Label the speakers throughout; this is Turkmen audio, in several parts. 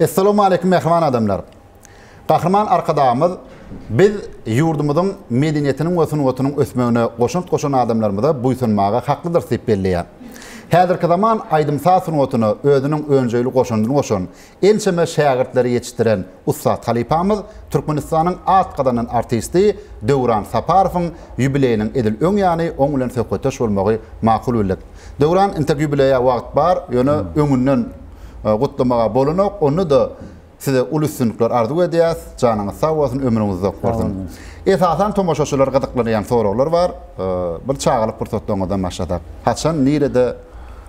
Speaker 1: Essalawmaleýkim mähriban adamlar. Gahryman Arkadagymyz biz ýurdumyzyň medeniýetiniň we sungatynyň ösmegine goşant goşan adamlarymyza buýsanmaga haklydyrys diýip belleýär. Häzirki zaman aýdym-saz sungatyna özüniň önjeýli goşandyny goşan, ençeme şägirtleri ýetişdiren ussat halypamyz Türkmenistanyň at gazanan artisti Döwran Saparowyň ýubileýiniň edil öň ýany oň bilen söhbetdeş bolmagy makul bildik. Döwran, entek ýubileýä wagt bar, ýöne öňünden. gutlamaga bolanok. Onda-da size uly üstünlikler arzuw edýäs. Janyňyz sag bolsun, ömrüňiz uzak bolsun. Esasan tomaşaçylar gyzyklanýan soraglar bar. Bir çagalyk pursatlaryňyzdan başlasak. Haçan, nirede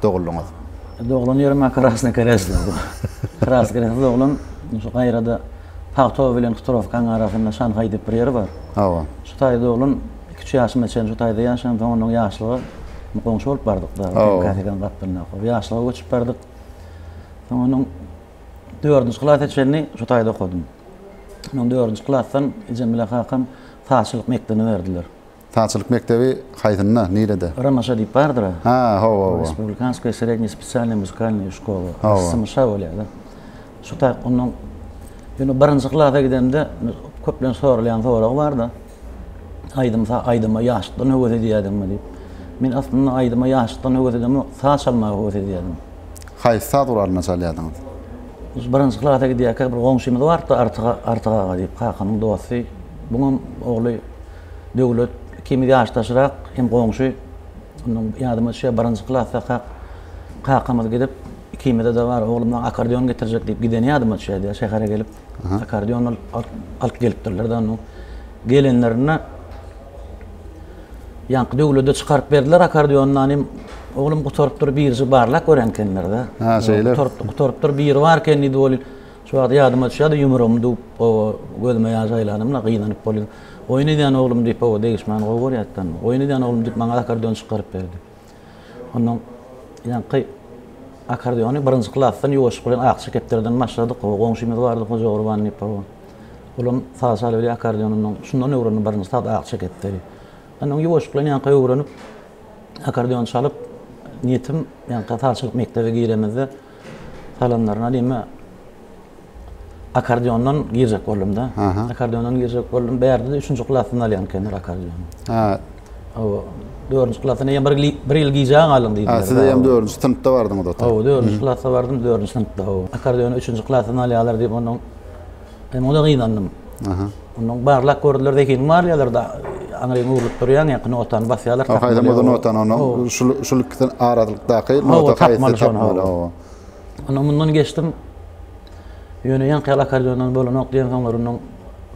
Speaker 1: doguldyňyz? Doglan ýerim men Krasnokreslda. Krasnokresl doglan. Şu gaýrada Pagtow bilen Hutyrowkaň arasynda Şanhaý diýip bir ýer bar. Hawa. Şu taýda doglan. Üç ýaşyma çenli şu taýda ýaşadym. Soň ondan ýaşlyga goňşy bolup bardyk. Kasekan gapdalynda okup. Ýaşlyga göçüp bardyk. Soň onuň dördünji klasa çenli şu taýda okadym. Soň dördünji klasdan ejem bilen kakam sazçylyk mekdebine berdiler. Sazçylyk mekdebi haýsynda, nirede? Romaşa diýip bardyr. Ha, hawa, hawa. Respublikanskoýa srednýa spesialnýa muzykalnýa şkola. Symyşa bolýar-da. Şu taý ondan ýöne birinji klasa gidemde köplenç soralýan soragy bar-da. Aýdym sa aýdyma ýaşlykdan höwes edýädiňmi diýip. Men aslynda aýdyma ýaşlykdan höwes edemok, saz çalmaga höwes edýädim. Haýsy saz guralynda çalýardyňyz? Biz birinji klasa gidýärkä bir goňşymyz bardy Artyk Artyk aga diýip, kakamyň dosty. Buňam ogly Döwlet ikimiz ýaşdaşrak hem goňşy. Ondan ýadyma düşýär birinji klasdakak kakamyz gidip ikimize-de bar oglum maňa akkordeon getirjek diýip gideni ýadyma düşýärdi ýa şähere gelip. Akkordeon alyp gelipdirler-de ony. Gelenlerinde ýaňky döwlede çykaryp berdiler akkordeony, nanem, oglum gutarypdyr, biriji barlap gören ekenler-de. Ha, şeýle. Gutarypdyr, gutarypdyr, biri bar eken diýdi welin, şu wagt ýadyma düşýär-de, ýumrugymy düwüp, hawa, gözüme ýaş aýlandym-da, gynanyp bolýa. Oýun edýän oglum diýip, hawa, degişmäni gowy görýärdi-de. Oýun edýän oglum diýip, maňa akkordeon çykaryp berdi. Ondan ýaňky akardiony birinji klasdan ýuwaşlyk bilen akja kepderden başladyk. O goňşymyz bardy Hoja Gurban diýip. Olam saz çal weli akardionyndan şundan öwrendi birinji saz akja kepderi. Ondan ýuwaşlyk bilen ýaňky öwrenip akardion çalyp niýetim ýaňky saz çalyp mekdebe giremizde Galanlaryna diýme. Akkordeondan girjek boldum-da. Akkordeondan girjek boldum. Bärde-de üçünji klasdan alýan ekenler akkordeony. Ha. Hawa. Dördünji klasdan eýem bir, bir ýyl gijä galyň diýdiler. Ha, siz eýem dördünji synpda bardyňyz ota. Hawa, dördünji klasda bardym, dördünji synpda. Hawa. Akkordeony üçünji klasdan alýarlar diýip, ondan Men oňa-da gynandym. Ondan barlap gördüler, zehiniň bar diýerler-de, aňryň öwrülip durýaň, ýaňky notany basýarlar. Haý, haýsam ozal notany, onda şul ikisi aralykdaky nota haýsy tapmaly. Ondan mundan geçdim. Ýöne ýaňky ýaly akkordeondan bolanok diýen soňlar ondan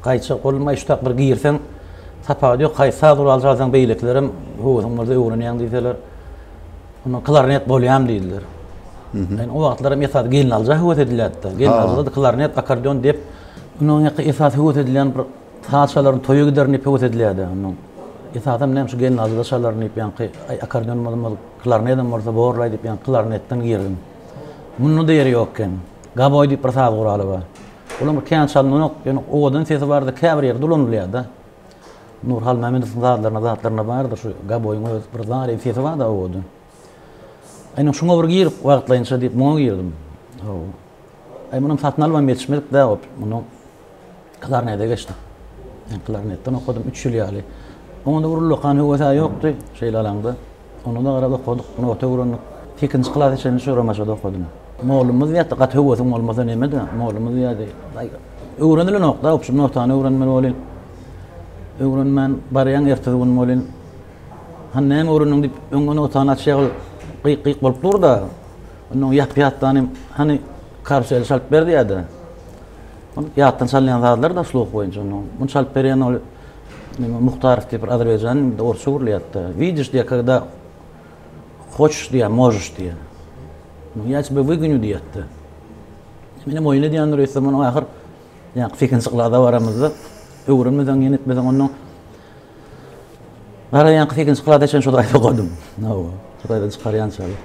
Speaker 1: gaýtjak boldum. Aý, şu tak bir girseň, tapawudy ýok, haýsy saz guraly çalsaň beýlekilerem höwesiň bolsa öwrenýäň diýseler. Onda klarnet bolýam diýdiler. Ýöne o wagtlar hem esasy gelnalyja höwes edilýärdi-de. Gelnalyjada klarnet, akkordeon diýip, ondan ýaňky esasy höwes edilýän bir saz çalaryň toýa giderin diýip höwes edilýärdi. Ondan esasam näme şu gelnalyjada çalarin diýip ýaňky aý akkordeon bolmaz, klarnet hem bolsa borlaý diýip ýaňky klarnetden girdim. Munda-da ýeri ýok eken. Gaboý diýip bir saz guraly bar. Olam kän çalynanok, ýöne owadan sesi bardy, käbir ýerde ulanylýar-da. Nur Halmämmedowyň zadlaryna zatlaryna bardyr şu gaboýyň öz bir zaryn sesi barda owoda. Aýna şuňa bir girip wagtlaýynça diýip muňa girdim. Haw. Aý muny satyn alman ýetişmedik dä ot. Muny klarnete geçdim. Klarnetden okadym 3 ýyl ýaly. Onda bir ullakan höwes-ä ýokdy şeýle alaňda. Onda da biraz okadyk, nota öwrendik. Sekizinji klasa çenli şu Romaşada okadym. Mollumyz diýýärdi, Gaty höwesiň bolmasa neme-de, mollumyz diýýärdi. Aý, öwrenilenok-da, obşim notany öwrenmeli welin, öwrenmän barýaň, ertesi gün welin, Hany näme öwrendiň diýip, öňňe notany açýagy gyk-gyk bolup dur-da, onda oňa ýapýatdan hem, Hany, karuseli çalyp ber diýýärdi. Ol ýatdan çalynýan sazlar-da, sluh boýunça onda. Muny çalyp berýän ol. Näme Muhtarow diýip bir azerbaýjan bir orsça gürleýärdi. Widiş diýär, kada hoçş diýär, możş diýär. Muny ýa çbe wygünü diýýärdi. Men hem oýun edýändir öýtse muny ahyr ýa fikin çyklada baramyzda öwrenmeseň ýene etmeseň onda Bara ýa fikin çyklada çen şo daýda ogadym. Nawa, şo daýda çykarýan çaly.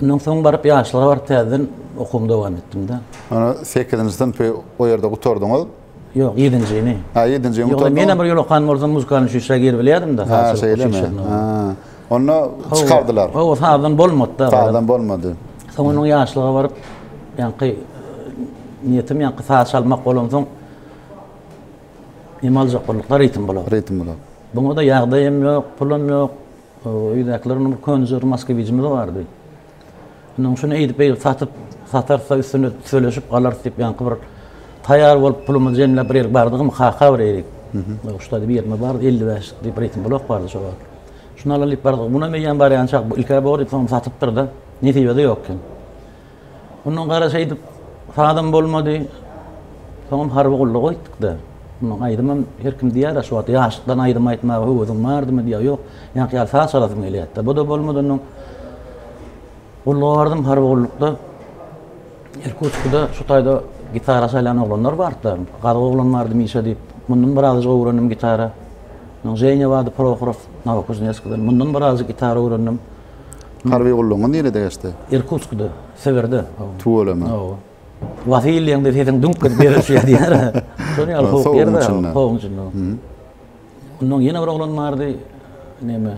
Speaker 1: Ondan soň baryp ýaşlara baryp täzeden okuwymy dowam etdim-de. Ana 8-nji synpy o ýerde gutardyňyz. Ýok, ýedinjini. Hä, ýedinjini gutaransoň. Ýogny menem bir ýol okan bolsam muzykanyň şuşa girip bilýädim-de. Hä, şeýlemi? Hä. Onda çykardylar. Hawa, sazdan bolmady-da. Sazdan bolmady. Soň onuň ýaşlyga baryp, ýaňky niýetim ýaňky saz çalmak bolansoň neme aljak bolduk-da ritm blok. Ritm blok. Buňa-da ýagdaýym ýok, pulum ýok. Öýdäkiler onuň bir könjüri, moskwiçimiz bardy. Indi oň şuny eýdip-beýdip satyp, satarys-da üstüne söleşip galarys diýip, ýaňky bir taýýar bolup, pulumyzy jemläp bir ýerlik bardygym, kaka bir eýrik, uçta diýip ýerimiz bardy, elli bäş diýip reýting blok bardy şo wagt. Şuny alaly diýip bardyk. Munam eýýäm barýançak ilk-ä bor diýip, soňam satypdyr-da. Nesibe-de ýok eken. Ondan gara şeýdip, sadam bolmady. Soňam harby gulluga gitdik-de. Munuň aýdymam her kim diýýär-ä şu wagt ýaşlykdan aýdym aýtmaga höwesiň bardymy diýýär ýok ýaňky ýaly saz çalasyň gelýärdi bu-da bolmadan öň gulluga bardym harby gullukda Irkutskide şu taýda gitara çalýan oglanlar bardy gazy oglan bardy Mişa diýip mundan birazajyk öwrendim gitara Munuň Ženýa bardy Prohorow Nowokuzneskiden mundan birazajyk gitara öwrendim. Harby gullugyňyz nirede geçdi? Irkutskide Sibirde Tüweleme. Wasilýeň-de sesiň düňk gezip ýere düşýär diýýär. Şonuň ýaly sowuk ýerde, sowugyň içinde. Onnoň ýene bir oglan bardy, näme,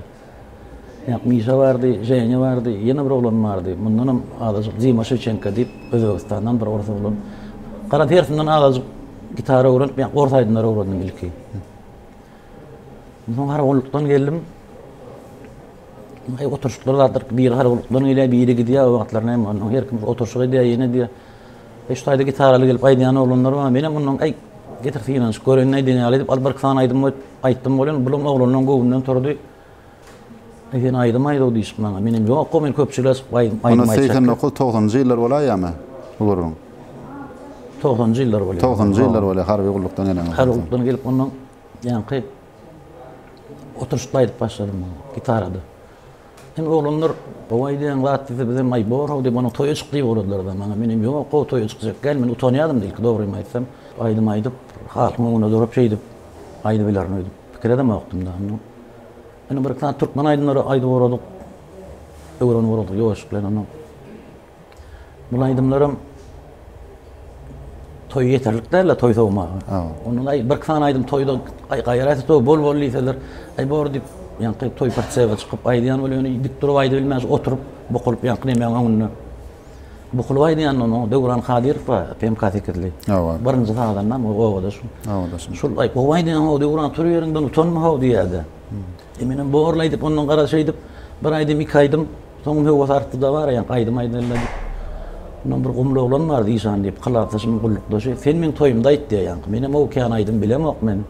Speaker 1: ýak Mişa bardy, Ženýa bardy, ýene bir oglan bardy. Mundanam azajyk Dima Şewçenko diýip, Özbegistandan bir ors oglan. Gara tersinden azajyk gitara öwrenip, ýa ors aýdymlary öwrendim ilki. Soň harby gullukdan geldim. Ýa oturşyklar bardyr, biri garagulykdan gelýär, biri gidýär, o wagtlar näme, ondan her kim oturşyk edýär, ýene diýýär. E şu taýda gitaraly gelip aýdýan oglanlar bar, menem ondan aý getir synanyşyk göreýin nädýän ýaly diýip, al bir iki sany aýdym goýup aýtdym welin, bulam oglanlaryň göwnünden turdy. E sen aýdym aýt-ow diýşip maňa, menem ýok-ow men köpçülige çykyp aýdym aýtjak. Ony segsen dokuz, togsanjy ýyllar bolaýýamy bu gürrüň? Togsanjy ýyllar bolýar. Togsanjy ýyllar bolýar, harby gullukdan gelenok. Harby gullukdan gelip ondan ýaňky Oturyşda aýdyp başladym muny gitarada. Hem oglanlar gowy aýdýaň zat diýse biz hem aý bor-ow diýip onuň toýa çyk diýip ugradylary-da maňa. Men hem ýok gowy toýa çykjak däl men utanýadym ilki dogrymy aýtsam. Aýdym aýdyp halkyň öňünde durup şeýdip aýdyp bilerin öýdüp pikir edemokdym-da. Ýöne bir-iki sany türkmen aýdymlary aýdyp ugradyk. Öwrenip ugradyk ýoşup bilen ony. Bul aýdymlaram toý ýeterlik däl-le toý sowmaga. Ondan aý bir sany aýdym toýda gaýraýsa toý bol bol diýseler, aý bor diýip, ýaňky toý parçaga çykyp aýdýan bol ýöne dik durup aýdyp bilmän oturyp bukulyp ýaňky nemäň öňünde. Bukulyp aýdýanda onuň Döwran Kadyrow bar, PMK sekizli. Hawa. Birinji sazanda o obada şu. Obada şu. Şul aý gowy aýdýan o Döwran tur ýeriňden utanma ho diýýärdi. Menem borly aýdyp ondan gara şeýdip bir aýdym iki aýdym Soňam höwes artdy-da bar, ýa gaýdym aýdaýyn-da diýip. Mundan bir gumly oglan bar, Zişan diýip, kylapdaşymyň gullukdaşy. Sen meň toýumda aýt diýýär ýaňky. Menem o kän aýdym bilemok men.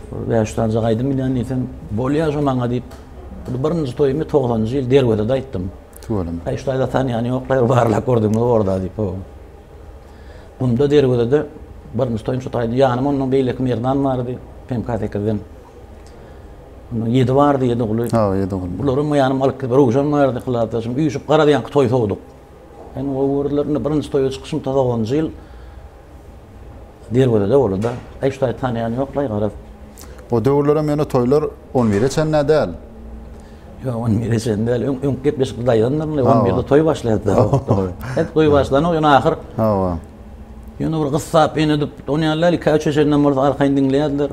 Speaker 1: Bir bäş-üç sanjak aýdym bilýän diýsem, bolýa şo maňa diýip, birinji toýumy togsanjy ýyl Derwezede aýtdym. Tüweleme. Aý, şu taýda tanýany ýok-la, bir barlap gördüňmi orda diýip, ho. Gumda Derwezede birinji toýum şu taýda. Ýanymda ondan beýleki Merdan bardy, PMK sekizden. Onda ýedi bardy, ýedi guly. Ha, ýedi guly. Bulary men ýanym alyp gidip, Röwşen bardy, Kyladaşym, üýşüp garadyýanky toý sowduk. Indi gowy gördüler, indi birinji toýa çykyşym tozagonjy ýyl Derwezede boldy-da. Aý, şu taýy tanaýan ýok-laý, garaz. O döwürlerem ýöne toýlar on bire çenlä däl. Ýok, on bire çenli däl. Öň, öňki gepleşikde daýandyr, indi on birde toý başlaýardy. Hep toý başlanok, ýöne ahyr. Hawa. Ýöne bir gyssap, enedip, ony ýaly däl, iki-üç çenli bolsa arkaýyn diňleýärdiler.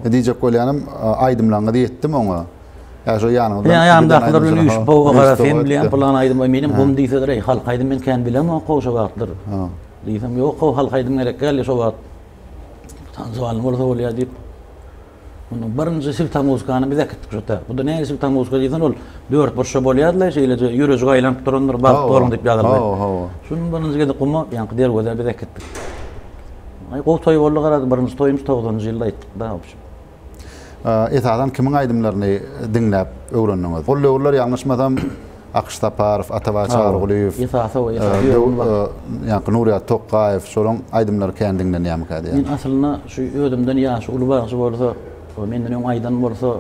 Speaker 1: E, diýjek bolýanym, aýdymlaryňyzy etdim oňa. Ýa şu ýanyňyzda. Ýa ýanymdakylar bilen üýşüp, powa gara sen bilýän, plan aýdym, men hem gum diýseler, eý, halk aýdym men kän bilemok, şo wagtlar. Ha. Diýsem, ýok, halk aýdym gerek däl, şo wagt. Tanzywalny bolsa bolýar diýip. Munuň birinji siltamuzykany biz äkitdik şota. Bu-da nähili siltamuzka diýseň, ol dörtburçda bolýardy-la, şeýleje ýürejik aýlanyp durandyr, Bagt bolan diýip ýazyldy. Hawa, hawa. Şuny birinji gezek guma, ýaňky derwezä biz äkitdik. Aý, gowy toý boldy garaz, birinji toýumyz togsanynjy ýylda aýtdyk-da, w общem. Esasan kimiň aýdymlaryny diňläp öwrendiňiz? Ol döwürler ýalňyşmasam, Akyş Saparow, Atabay Çarygulyýew, ýaňky Nurýat Tokgaýew, şolaryň aýdymlary kän diňlenýärmikä diýýän. Men aslynda şu özümden ýaşy uly bagşy bolsa, menden öň aýdan bolsa,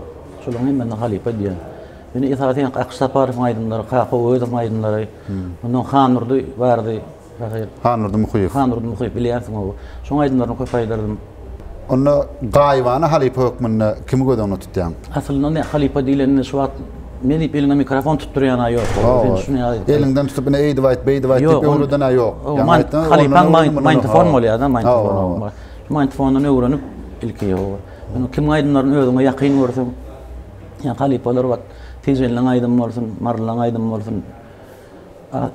Speaker 1: şolaryň hemmesine halypa diýýän. Ýöne esasy Akyş Saparowyň aýdymlary, Kaka Owezowyň aýdymlary, ondan Handurdy bardy. Şahyr. Hannurdy Muhyýew. Hannurdy Muhyýew, bilýärsiň oba. Şoň aýdymlaryny köp aýdardym. Onda Gaýybana halypa hökmünde kimi göz öňünde tutýaň? Aslynda ine, halypa diýlende şu wagt ne diýip eliňe mikrofon tutdurýan-a ýok. Eliňden tutup ine eýdip aýt, beýdip aýt diýip öwreden-ä ýok. Halypaň maýntofon bolýar-da, maýntofon. Şu maýntofondan öwrenip ilki. Indi kimiň aýdymlaryny özüňe ýakyn görseň, ýa halypalar wagt Tijeliň aýdymy bolsun, Marylyň aýdymy bolsun,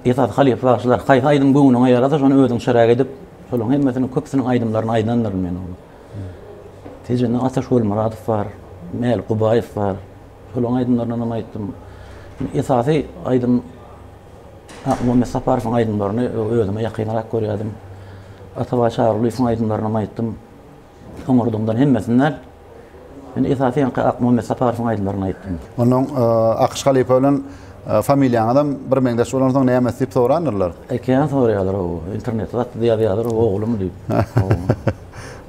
Speaker 1: Esasy halypa bagşylar, haýsy aýdym göwnüňe ýarasa, şony özüň çyrak edip, şolaryň hemmesiniň köpüsiniň aýdymlaryny aýdandyryn men ol. Tejenden Ataş Golmyradow bar, Mälik Gubaýew bar. Şolaryň aýdymlaryndan hem aýtdym. Esasy aýdym Muhammet Saparowyň aýdymlaryny özüme ýakynrak görýärdim. Atabaý Çarygulyýewiň aýdymlaryny hem aýtdym. Soňurduňdan hemmesini däl. Men esasy ýaňky Akmuhammet Saparowyň aýdymlaryny aýtdym. Onnoň Akyş halypa bilen familiýaňyzam bir meňzeş bolansoň nämes diýip sorandyrlar. Ekän soraýarlar ow. Internetde zatda ýazýarlar oglumy diýip.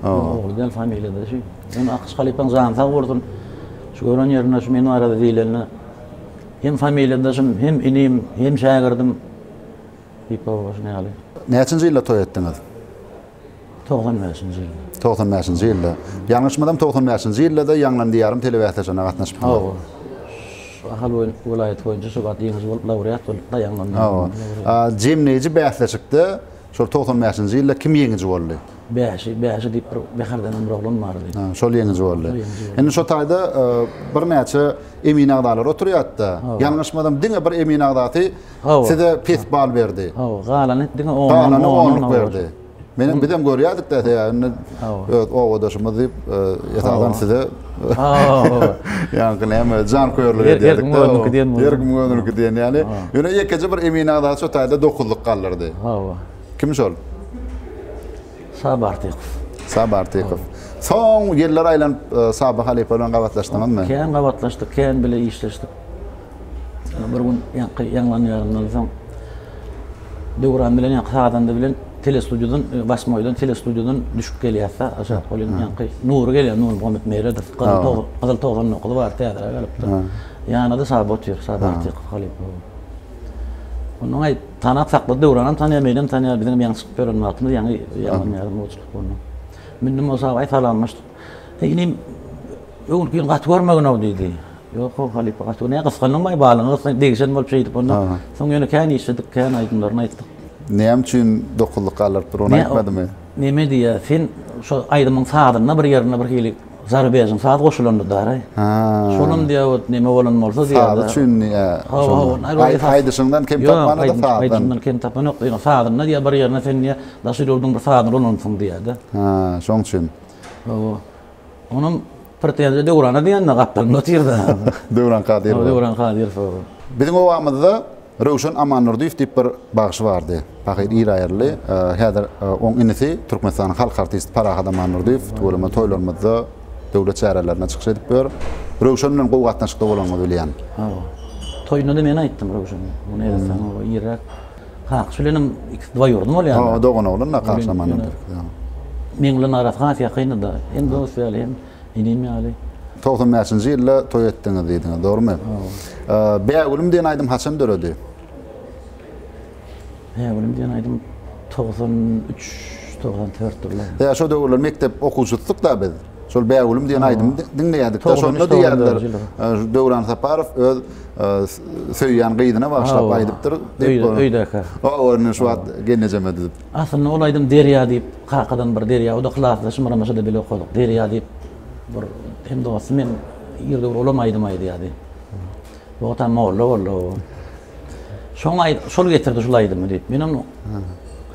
Speaker 1: Ogly däl familiýada şu. Ýöne Akyş halypaň jany sag bolsun. Şu gören ýerinde şu men barada diýlende hem familiýadaşym hem inim hem şägirdim diýip ow şuny ýaly. Näçinji ýylda toý etdiňiz? Togsan bäşinji ýylda. Togsan bäşinji ýylda. Ýalňyşmasam togsan bäşinji ýyllada Ýaňlan diýarym telebäsleşigine gatnaşypdylar. Hawa. Ahal boýun welaýaty boýunça şo wagt ýeňiji bolup laureat bolupdy Ýaňlan diýarym. Hawa. A jemleýji bäsleşikde şol togsan bäşinji ýylda kim ýeňiji boldy? Bäşi, Bäşi diýip bir Bäherden hem bir oglan bardy. Ha, şol ýeňiji boldy. Şol ýeňiji boldy. Indi şo taýda birnäçe emin agzalar oturýardy-da. Hawa. Ýalňyşmasam diňe bir emin agzasy Hawa. Size pes bal berdi. Hawa, galany diňe ondan on-on Galany onluk berdi. Menem bizem görýädik-de esasy indi öz obadaşymyz diýip esasan size ýaňky näme janköýerlik edýärdik-de. Her kimiň özüniňki diýen bolýar. Her kimiň özüniňki diýen ýaly. Ýöne ýekeje bir Emin aga şu taýda dokuzlyk galdyrdy. Hawa. Kim şol? Saby Artykow. Saby Artykow. Soň ýyllar aýlanyp Saby halypa bilen gabatlaşdyňyzmy? Kän gabatlaşdyk, kän bile işleşdik. Bir gün ýaňky ýaňlanýarymdan soň Döwran bilen ýaňky sazanda bilen telestudiýadan, e, Basmoýdan telestudiýadan düşüp gelýärse, aşak ol indi ýaňky Nury gelýär, Nury Muhammet Meredow, Gyzyl Togan, Gyzyl Togan okudy bar, täzere gelipdi. Ýanynda Saba otyr, Saba Artykow halypa. Ondan aý tanap sakla Döwranam tanýar, menem tanýar, biziň ýaňy çykyp ýören wagtymyz ýaňy ýaňlanýarym bolçulyk boldy. Mündüm bolsa aý salamlaşdyk. Indi Öňürki ýyl gaty görmegin-ow, diýdi. Ýok-ow, halypa, gaty gör. Näme, gysgandyňmy-aý, balyňy gysgan, degişen bolup şeýdip onda. Soň ýöne kän işledik, kän aýdymlaryny aýtdyk. Näme üçin dokuzlyk galyryp dur, ony aýtmadymy? Näme diýýär, sen şo aýdymyň sazynda bir ýerinde birhili zarubejnyň saz goşulanydyr-aý. Şolam diýäýip, näme bolan bolsa diýýär-de. Sazy üçinmi? Hawa-hawa. Aýdyşyňdan kem tapmanydyr sazdan. Ýok, aýdyşymdan kem tapan ýok. Ýöne sazynda diýýär, bir ýerinde sen diýýär, daşary ýurduň bir sazyny ulanansyň diýýär-de. Şoň üçin. Hawa. Onuň pretenziýa Döwrana diýen-de gapdalynda otyr-da. Döwran Kadyrowa. Döwran Kadyrowa. Biziň obamyzda Röwşen Amandurdyýew diýip bir bagşy bardy. Pahyr Iraýerli. Häzir oň inisi Türkmenistanyň halk artisti Parahat Amandurdyýew tüweleme toýlarymyzda, döwlet çärelerinde çykyş edip ýör. Röwşen bilen gowy gatnaşykda bolanyňyzy bilýän. Hawa. Toýunda-da men aýtdym Röwşene. Muny edesaň oba irräk. Kakşy bilenem ikisi dwoýurny bolýar. Hawa, doganoglanlar Kakşy Amangeldiýew. Meň bilen arasy has ýakyndyda. Hem dost ýaly, hem inim ýaly. Togsan bäşinji ýylda toý etdiňiz diýdiňiz, dogrumy? Bägülüm diýen aýdym haçan döredi? Bägülüm diýen aýdym togsan üç, togsan dört ýyllarynda. Ýa, şo döwürler mekdep okuwçysydyk-da biz. Şol Bägülüm diýen aýdymy diňleýädik-de, şony diýýärler. Döwran Saparow öz söýýän gyzyna bagyşlap aýdypdyr. Öýdäkä. O, indi şu wagt gelnejeme diýip. Aslynda ol aýdym Derýa diýip, kakadan bir Derýa, o-da klasda Şymyramaşada bile okadyk. Derýa diýip, bir hem dostum, hem ýerde bir ulam aýdym aýdýardy. Wagtam molla boldy o. Şoň aý şol getirdi şol aýdymy diýip. Men onu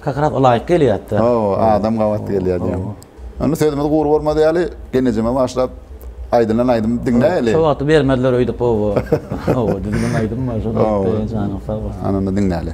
Speaker 1: Kak raz laýyk gelýärdi. Hawa, adam gabat gelýär diýen. Onda sözümiz gury bolmaz ýaly, genejeme başlap aýdylan aýdym diňläýeli. Şo wagty bermediler öýdüp oba. Oba düzülen aýdym bar şony aýtdy. Janyň sag bolsun. Ana onda diňläýeli.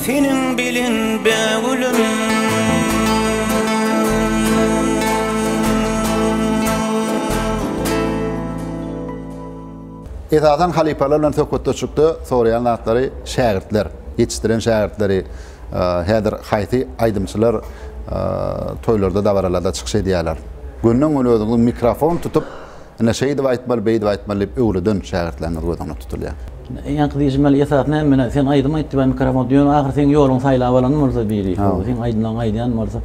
Speaker 1: Seniň bilen be gülüm Esasan halypalar bilen söhbetdeşlikde soraýan zatlary şägirtler, ýetişdiren şägirtleri häzir haýsy aýdymçylar toýlarda dabaralarda çykyş edýärler. Gönden göni özüňiz mikrofon tutup Ine, şeýdip aýtmaly, beýdip aýtmaly diýip öwreden şägirtleriňiz göz öňüne tutulýar. Ýaňky diýşim ýaly, esasy näme menä, sen aýdym aýt diýip aýdymkram boldy. Ýöne ahyry seň ýoluňy saýlap alan bolsa biri, şol seň aýdymlaryňy aýdýan bolsa,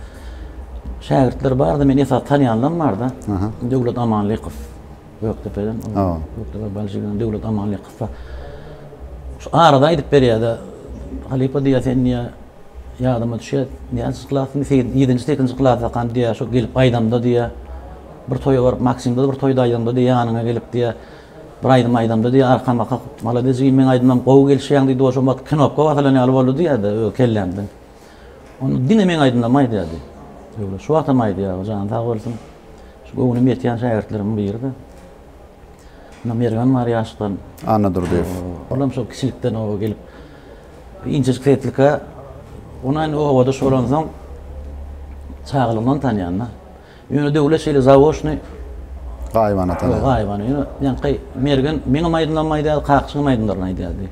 Speaker 1: şägirtler bar-da, men esasy tanýanlarym bar-da. Döwlet Amanlykow, Gökdepeden, Gökdepe Balşiginiň Döwlet Amanlykow bar. Şu arada aýdyp berýär-de, Halypa diýýär, sen diýýär, Ýadyma düşýär, näçe klasymda, segi ýedinji, sekizinji klasdakam diýýär, şo gelip aýdamda diýýär, bir toýa baryp, Maksimde bir toýda aýdamda diýýär, ýanyňa gelip diýýär, bir aýdym aýdamda diýýär, arkam bakyp, Malades jigim, meň aýdymlarym gowy gelişýäň diýdi, o şo wagt knopka basylan ýaly boldy diýýär-de, öe, kellämden. Onda diňe meň aýdymlarymy aýdýar diýdi. Öwre, şu wagtam aýdýar, jany sag bolsun. Şu göwnüm ýetýän şägirtlerimiň biri-de. Onda Mergen bar ýaşdan. Annadurdyýew. Olam şo kiçilikden o gelip. Inçejik setlika onuň obada şolansoň çagalygyndan tanýan-da. Ýöne Döwlet şeýle zawoşny gaýybana tanýar. Gaýybana. Ýöne ýaňky Mergen meňem aýdymlarymy aýdardy, Kakjygyň aýdymlaryny aýdardy.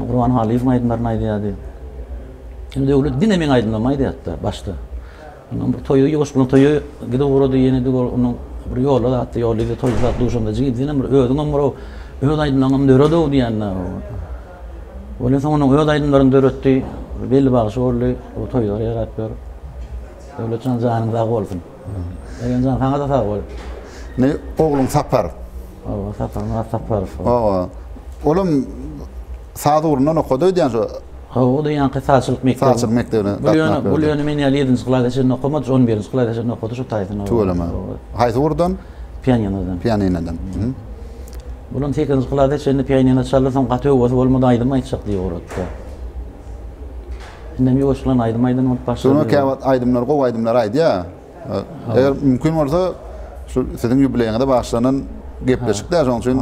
Speaker 1: Gurban Halyýewiň aýdymlaryny aýdardy. Döwlet diňe meň aýdymlarymy aýdardy başda. Ondan bir toýy ýuwaş boluň toýy gidip ugrady ýene bir ol onuň bir ýolda zatdy ýolda indi toýy zat duşanda jigim senem bir özüňem bir ow öz aýdymlaňam döret ow diýende ol ýene soň onuň öz aýdymlaryny döretdi belli bagşy boldy bu toýlara ýarap ýör Döwletjan janyň sag bolsun Egenjan saňada sag bol Indi ogluň Sapar. Oba, Saparmyrat Saparow. Oba. Olam saz ugrundan okady öýdýän şo. Hawa, o-da ýaňky sazçylyk mekdebine. Sazçylyk mekdebine gatnap berdi. Bu ýöne men ýaly ýedinji klasa çenli okamady, on birinji klasa çenli okady şu taýdan oba. Tüweleme. Haýsy ugurdan? Pianinodan. Pianinodan. Olam sekizinji klasa çenli pianino çaldy, soň gaty höwesi bolmady, aýdym aýtjak diýip ugratdy. Indem ýuwaşyklan aýdym aýdan bolup başlady. Soňra käwagt aýdymlar, gowy aýdymlar aýdýar. Eger mümkin bolsa şu siziň ýubileýiňize bagyşlanan gepleşik däl şoň üçin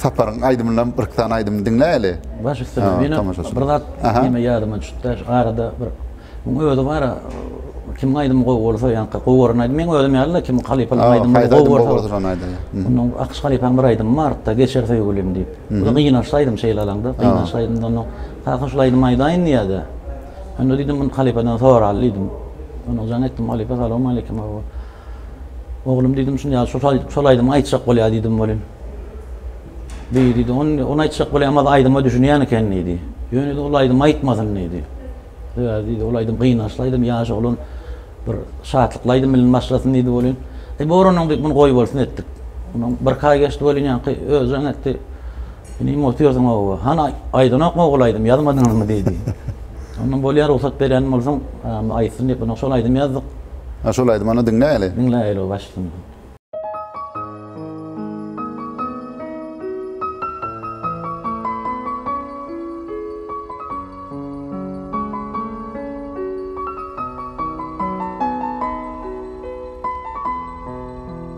Speaker 1: Saparyň aýdymyndan bir iki sany aýdym diňläýeli. Baş üstüne meni bir zat diýme ýadyma düşüpdi şu arada bir muň özi bara kimiň aýdymy gowy bolsa ýa gowy gören aýdym meň özüm ýaly-da kimiň halypanyň aýdymy gowy bolsa şony aýdaýa. Munyň Akyş halypanyň bir aýdymy bardy-da Geçer söýgülim diýip. Bu gynansly aýdym şeýle alaňda gynansly aýdymdan soň kaka şol aýdymy aýdaýyn diýýä-de. Onda diýdim, muny halypadan sorali diýdim. Onuň jaň etdim, halypa salawmaleýkim hawa. Oglum diýdim, şun ýaly şol aýdyp, şol aýdymy aýtjak bolýar diýdim welin. Beý diýdi, ony, ony aýtjak bolýamaz, aýdyma düşünýän eken diýdi. Ýöne-de ol aýdymy aýtmasyn diýdi. Sebäbi diýdi, ol aýdym gynançly aýdym, ýaş oglan bir şatlykly aýdym bilen başlasyn diýdi welin. Eý, bor onuň diýip, muny goýbolsun etdik. Ondan birki aý geçdi welin, ýaňky özi jaň etdi. Inim otyrdyň oba. Hany aýdanokmy ogul aýdym ýazmadyňyzmy diýdi. Onda bolýa rugsat berýän bolsaň aýtsyn diýip ynha şol aýdym ýazdyk. Ha şol aýdymy onda diňläýeli. Diňläýeli başlysyny.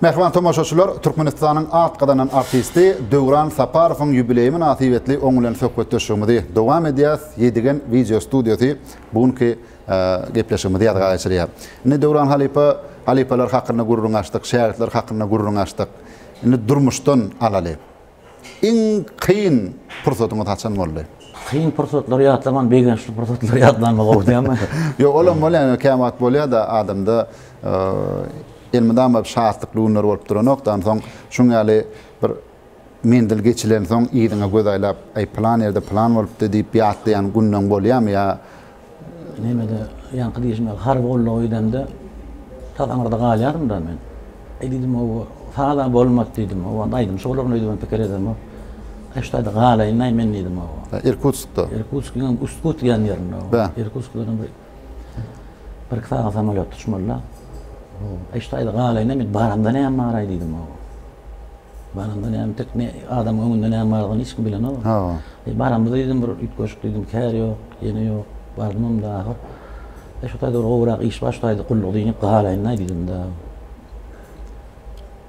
Speaker 1: Mähriban tomaşaçylar, Türkmenistanyň at gazanan artisti Döwran Saparowyň ýubileýi mynasybetli oň bilen söhbetdeşligimizi dowam edýäs. Ýedigen wideo studiýasy bu günki gepleşigimizi ýazga geçirýär. Indi Döwran halypa, halypalar hakynda gürrüň açdyk, şägirtler hakynda gürrüň açdyk. Indi durmuşdan alaly. Iň kyn pursatyňyz haçan boldy? Kyn pursatlary ýatlaman, begençli pursatlary ýatlanma gowy dälmi? Ýok, olam bolýar, ýöne kän wagt bolýar-da adamda elmydama şatlykly günler bolup duranok-da, onsoň şuň ýaly bir menzil geçilensoň yzyňa göz aýlap, aý pylan ýerde pylan bolupdy diýip ýatlaýan günleň bolýarmy ýa Nemede ýaňky diýşim ýaly harby gulluga gidemde tas aňyrda galýardym-da men. Eý diýdim, o saz-a bolmaz diýdim. O wagt aýdymçy bolaryn öýdübem pikir edemok. Eý şu taýda galaýyn-aý men diýdim. Irkutskda. Irkutskiň hem Ustku diýen ýerinde. Irkutskdan bir birki sagat samolýot uçmaly-da. Eý şu taýda galaýyn-aý men baramda näme bar-aý diýdim. Baranda näme tek ne adamyň öňünde näme bardygyny hiç kim bilenok. Hawa. E, baramyzda diýdim bir üýtgeşik diýdim, kär ýok, ýene ýok. Bardymam-da ahyr. E, şu taýda bir gowurak iş bar, şu taýda gulluk diýnip galaýyn-da diýdim-de.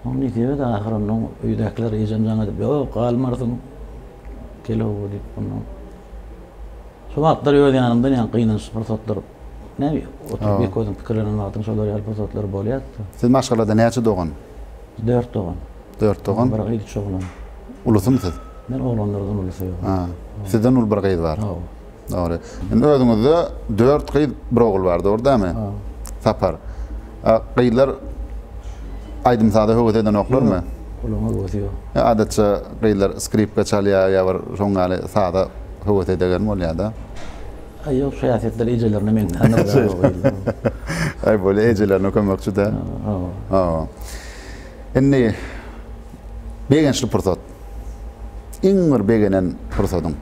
Speaker 1: Oň nesibede ahyr onnoň öýdäkiler ejem jaň edip, Ýok, galmarsyň. Kel oba diýip onnoň. Şo wagtlar öz ýanymdan ýaňky gynançly pursatlar Näme, oturyp ýeke özüň pikirlenen wagtyň şolar ýaly pursatlary bolýar-da. Siz maşgalada näçe dogan? Dört dogan. Dört dogan. Bir gyz, üç oglan. Ulusym siz? Men oglanlardan ulusy. Ha. Sizden uly bir gyz bar. Hawa. Dogry. Indi özüňizde dört gyz, bir ogul bar, dogry dämi? Ha. Sapar. A, gyzlar aýdym-saza höwes edenoklarmy? Ýok, olaryň höwesi ýok. Ýa adatça gyzlar skripka çalýar ýa bir şoň ýaly saza höwes edegen bolýar-da. Aý ýok şu häsiýetler ejelerine meňzändir. Aý bolýa ejelerine kömekçi-dä. Hawa. Indi begençli pursat. Iň bir begenen pursadyň.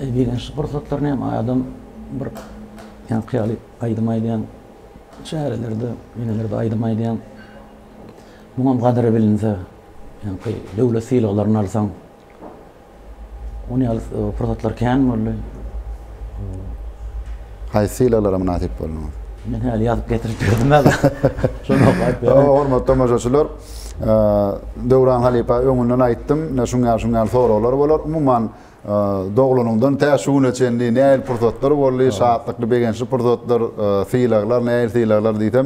Speaker 1: E, begençli pursatlar näme adam bir ýa hyýaly aýdym aýdýan çärelerde, ýenelerde aýdym aýdýan. Muňam gadyry bilinse, ýa döwlet sylaglaryny alsaň, Ony ýaly pursatlar kän boldy. Haýsy sylaglara mynasyp bolduňyz? Men häli ýazyp getirip berdim-ä. Şony okap berem. Hormatly tomaşaçylar, Döwran halypa öňünden aýtdym, ine şuň ýaly, şuň ýaly soraglar bolar. Umuman, doglanyňdan tä şu güne çenli nähili pursatlar boldy, şatlykly, begençli pursatlar, sylaglar, nähili sylaglar diýsem,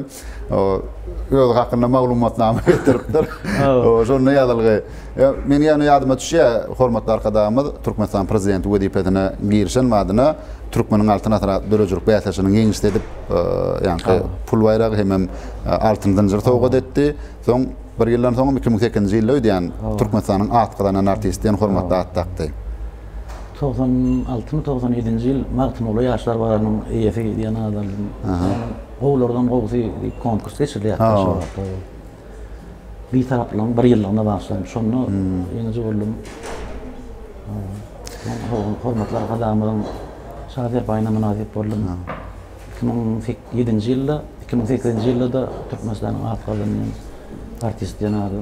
Speaker 1: öz hakynda maglumatnama getiripdir. Şonda ýazylgy. Men ýöne ýadyma düşýär, hormatly Arkadagymyz Türkmenistanyň prezidenti wezipesine girişen badyna Türkmeniň altyn asyry atly döredijilik bäsleşiginiň ýeňişçisi edip, ýaňky pul baýragy hemem altyn zynjyry sowgat etdi. Soň bir ýyldan soňam iki müň sekizinji ýylda öýdýän Türkmenistanyň at gazanan artisti diýen hormatly at dakdy. Togsan altymy, togsan ýedinji ýyl Magtymguly ýaşlar bazarynyň eýesi diýen at aldym. Gowulardan gowusy diýip konkurs geçirilýär Aşgabatda. Bitaraplygyň bir ýyllygyna bagyşlanyp, şonda ýeňiji boldum. Hormatly Arkadagymyzyň Şa serpaýyna mynasyp boldum. Iki müň ýedinji ýylda, iki müň sekizinji ýylda-da Türkmenistanyň at gazanýan artist diýen ady.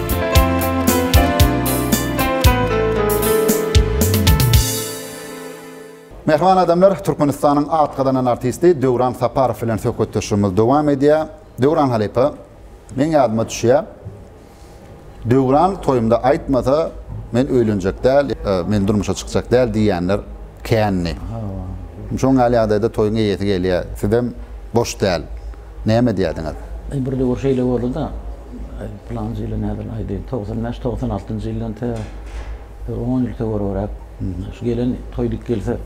Speaker 1: Mähriban adamlar, Türkmenistanyň at gazanan artisti Döwran Saparow bilen söhbetdeşligimiz dowam edýär. Döwran halypa, meň ýadyma düşýär, Döwran toýumda aýtmasa, men öýlenjek däl, men durmuşa çykjak däl diýýänler kändi. Şoňa ýaly ýagdaýda toýuň eýesi gelýär, sizem boş däl. näme edýärdiňiz? Eý, bir döwür şeýle boldy-da, pylanjy ýyly nädip aýdaýyn, togsan bäş, togsan altynjy ýyldan tä bir on ýyl töweregräk, şu gelen toý dik gelse,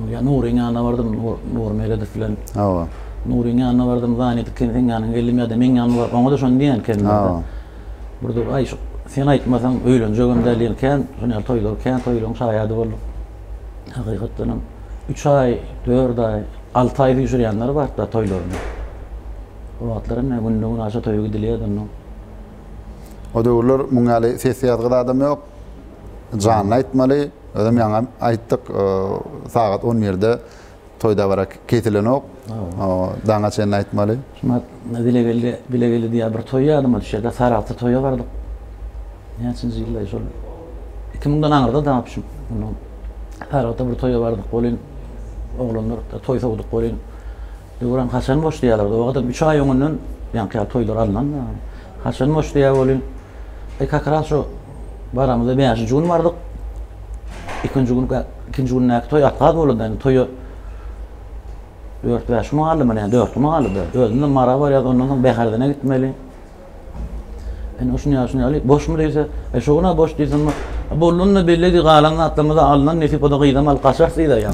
Speaker 1: ýa Nuryň ýanyna bardym, Nury Meredow bilen. Hawa. Nuryň ýanyna bardym, Zany diken seň ýanyňa geldim ýa-da meň ýanyma bar. Oňa-da şony diýen ekenler. Hawa. Bir döwür, aý, şu sen aýtmasaň öýlenjegem däl diýen kän, şuny ýaly toýlar, kän toýlaryň şaýady bolduk. Hakykatdan hem üç aý, dört aý, alty aý düşürýänler bar da toýlaryny. O wagtlar hem ne günde gün aşa toýa gidilýärdi onda. O döwürler muň ýaly ses ýazgy zadam ýok. Janly aýtmaly. Özem ýaňam aýtdyk, sagat on birde Toý dabara kesilenok. Daňa çenli aýtmaly. Şuna bile geldi, bile geldi diýýär. Bir toý ýadyma düşýär-de, Saragta toýa bardyk. Näçinji ýylda şol? Iki müňden aňyrda daňyp düşüp, ondan Saragta bir toýa bardyk welin, oglanlar toý sowduk welin, Döwran haçan boş diýýärler. Owadan üç aý öňünden ýaňky ýaly toýlar alnan. Haçan boş diýýär welin, e, kakras şu Baramyzda bäşinji gün bardyk. Ikinji gün ikinji gündäki toý atgaz bolanda indi toýa dört bäş gün galdy mana ýa dört gün galdy. Özümde mara bar ýa ondan soň Bäherdene gitmeli. Indi şuny ýa şuny ýaly boşmy diýse, e şu güne boş diýsem, bollanda belledi galan zatlarymyzy alnan nesip oda gyzam alyp gaçarys diýdi ýa.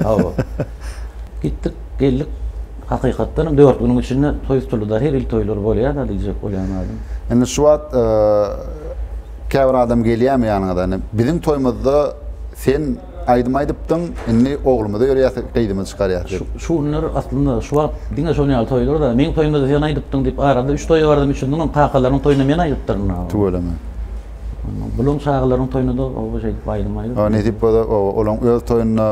Speaker 1: Hawa. Gitdik. Geldik, hakykatdan hem dört günüň içinde toý tutuldy-da, her il toýlar bolýar-da diýjek bolýan adam. Indi şu wagt käbir adam gelýärmi ýanyňyza, indi biziň toýumyzda sen aýdym aýdypdyň, indi oglumyza ýörýäs, gyzymyzy çykarýas diýip. Şu günler aslynda şu wagt diňe şonuň ýaly toýlar-da, meň toýumda-da sen aýdypdyň diýip, arada üç toý bardym, üçüsiniň hem kakalarynyň toýunda men aýdypdyryn. Tüweleme. Bulaň çagalaryň toýuna-da oba şeýdip aýdym aýdyp. Ýa nesip bolsa oba olaň öz toýunda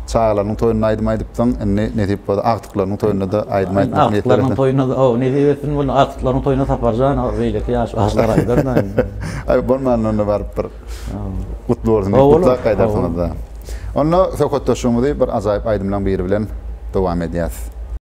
Speaker 1: çagalarynyň toýunda aýdym aýdypdyň, indi nesip bolsa agtyklarynyň toýunda-da aýdym aýtmak niýetlerimde. Agtyklarynyň toýuna-da oba nesip etsin bolsa agtyklaryň toýuna Saparjan o beýleki ýaş bagşylar aýdar-da indi. Aý bolmanda onda baryp bir gutly bolsun diýip gutlap gaýdarsyňyz-da. Onda söhbetdeşligimizi bir ajaýyp aýdymlaň biri bilen dowam edýäs.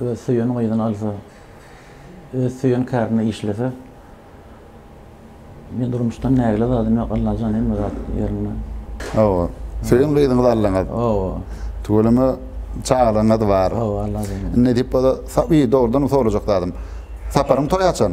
Speaker 1: Öz söýen gyzyny alsa, öz söýen kärinde işlese, men durmuşdan nägile zadym ýok, Allajan hemme zat ýerinde. Hawa. Söýen gyzyňyzy aldyňyz. Hawa. Tüweleme çagalaryňyz bar. Hawa, Allajan. Indi nädip bolsa, ýa dogrudanam sorajak zadym. Saparyň toýy haçan?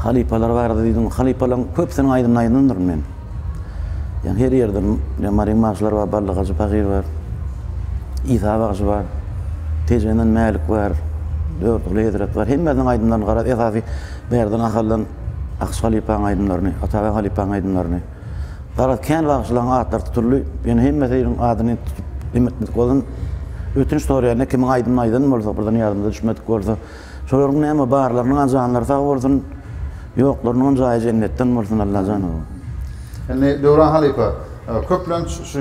Speaker 1: Halypalar barada diýdiň. Halypalaň köpüsiniň aýdymyny aýdandyryn men. Ýa her ýerde ýa Maryň bagşylary bar, Bally Hajy Pahyr bar. Isa bagşy bar. Tejenden Mälik bar. Dördiňli hezret bar. Hemmesiniň aýdymlaryny garaz, esasy Bärden Ahaldan Akyş halypaň aýdymlaryny, Atabeg halypaň aýdymlaryny. Garaz, kän bagşylaň atlary tutuldy. Ýöne hemmesiniň adyny tutup ýetmedik bolsam, ötünç soraýan-da, kimiň aýdymyny aýdan bolsa, birden ýadymyza düşmedik bolsa. Şolaryň näme barlarynyň a janlary sag bolsun ýoklarynyňam jaýy jennetden bolsun Allajan ow. Indi Döwran halypa köplenç şu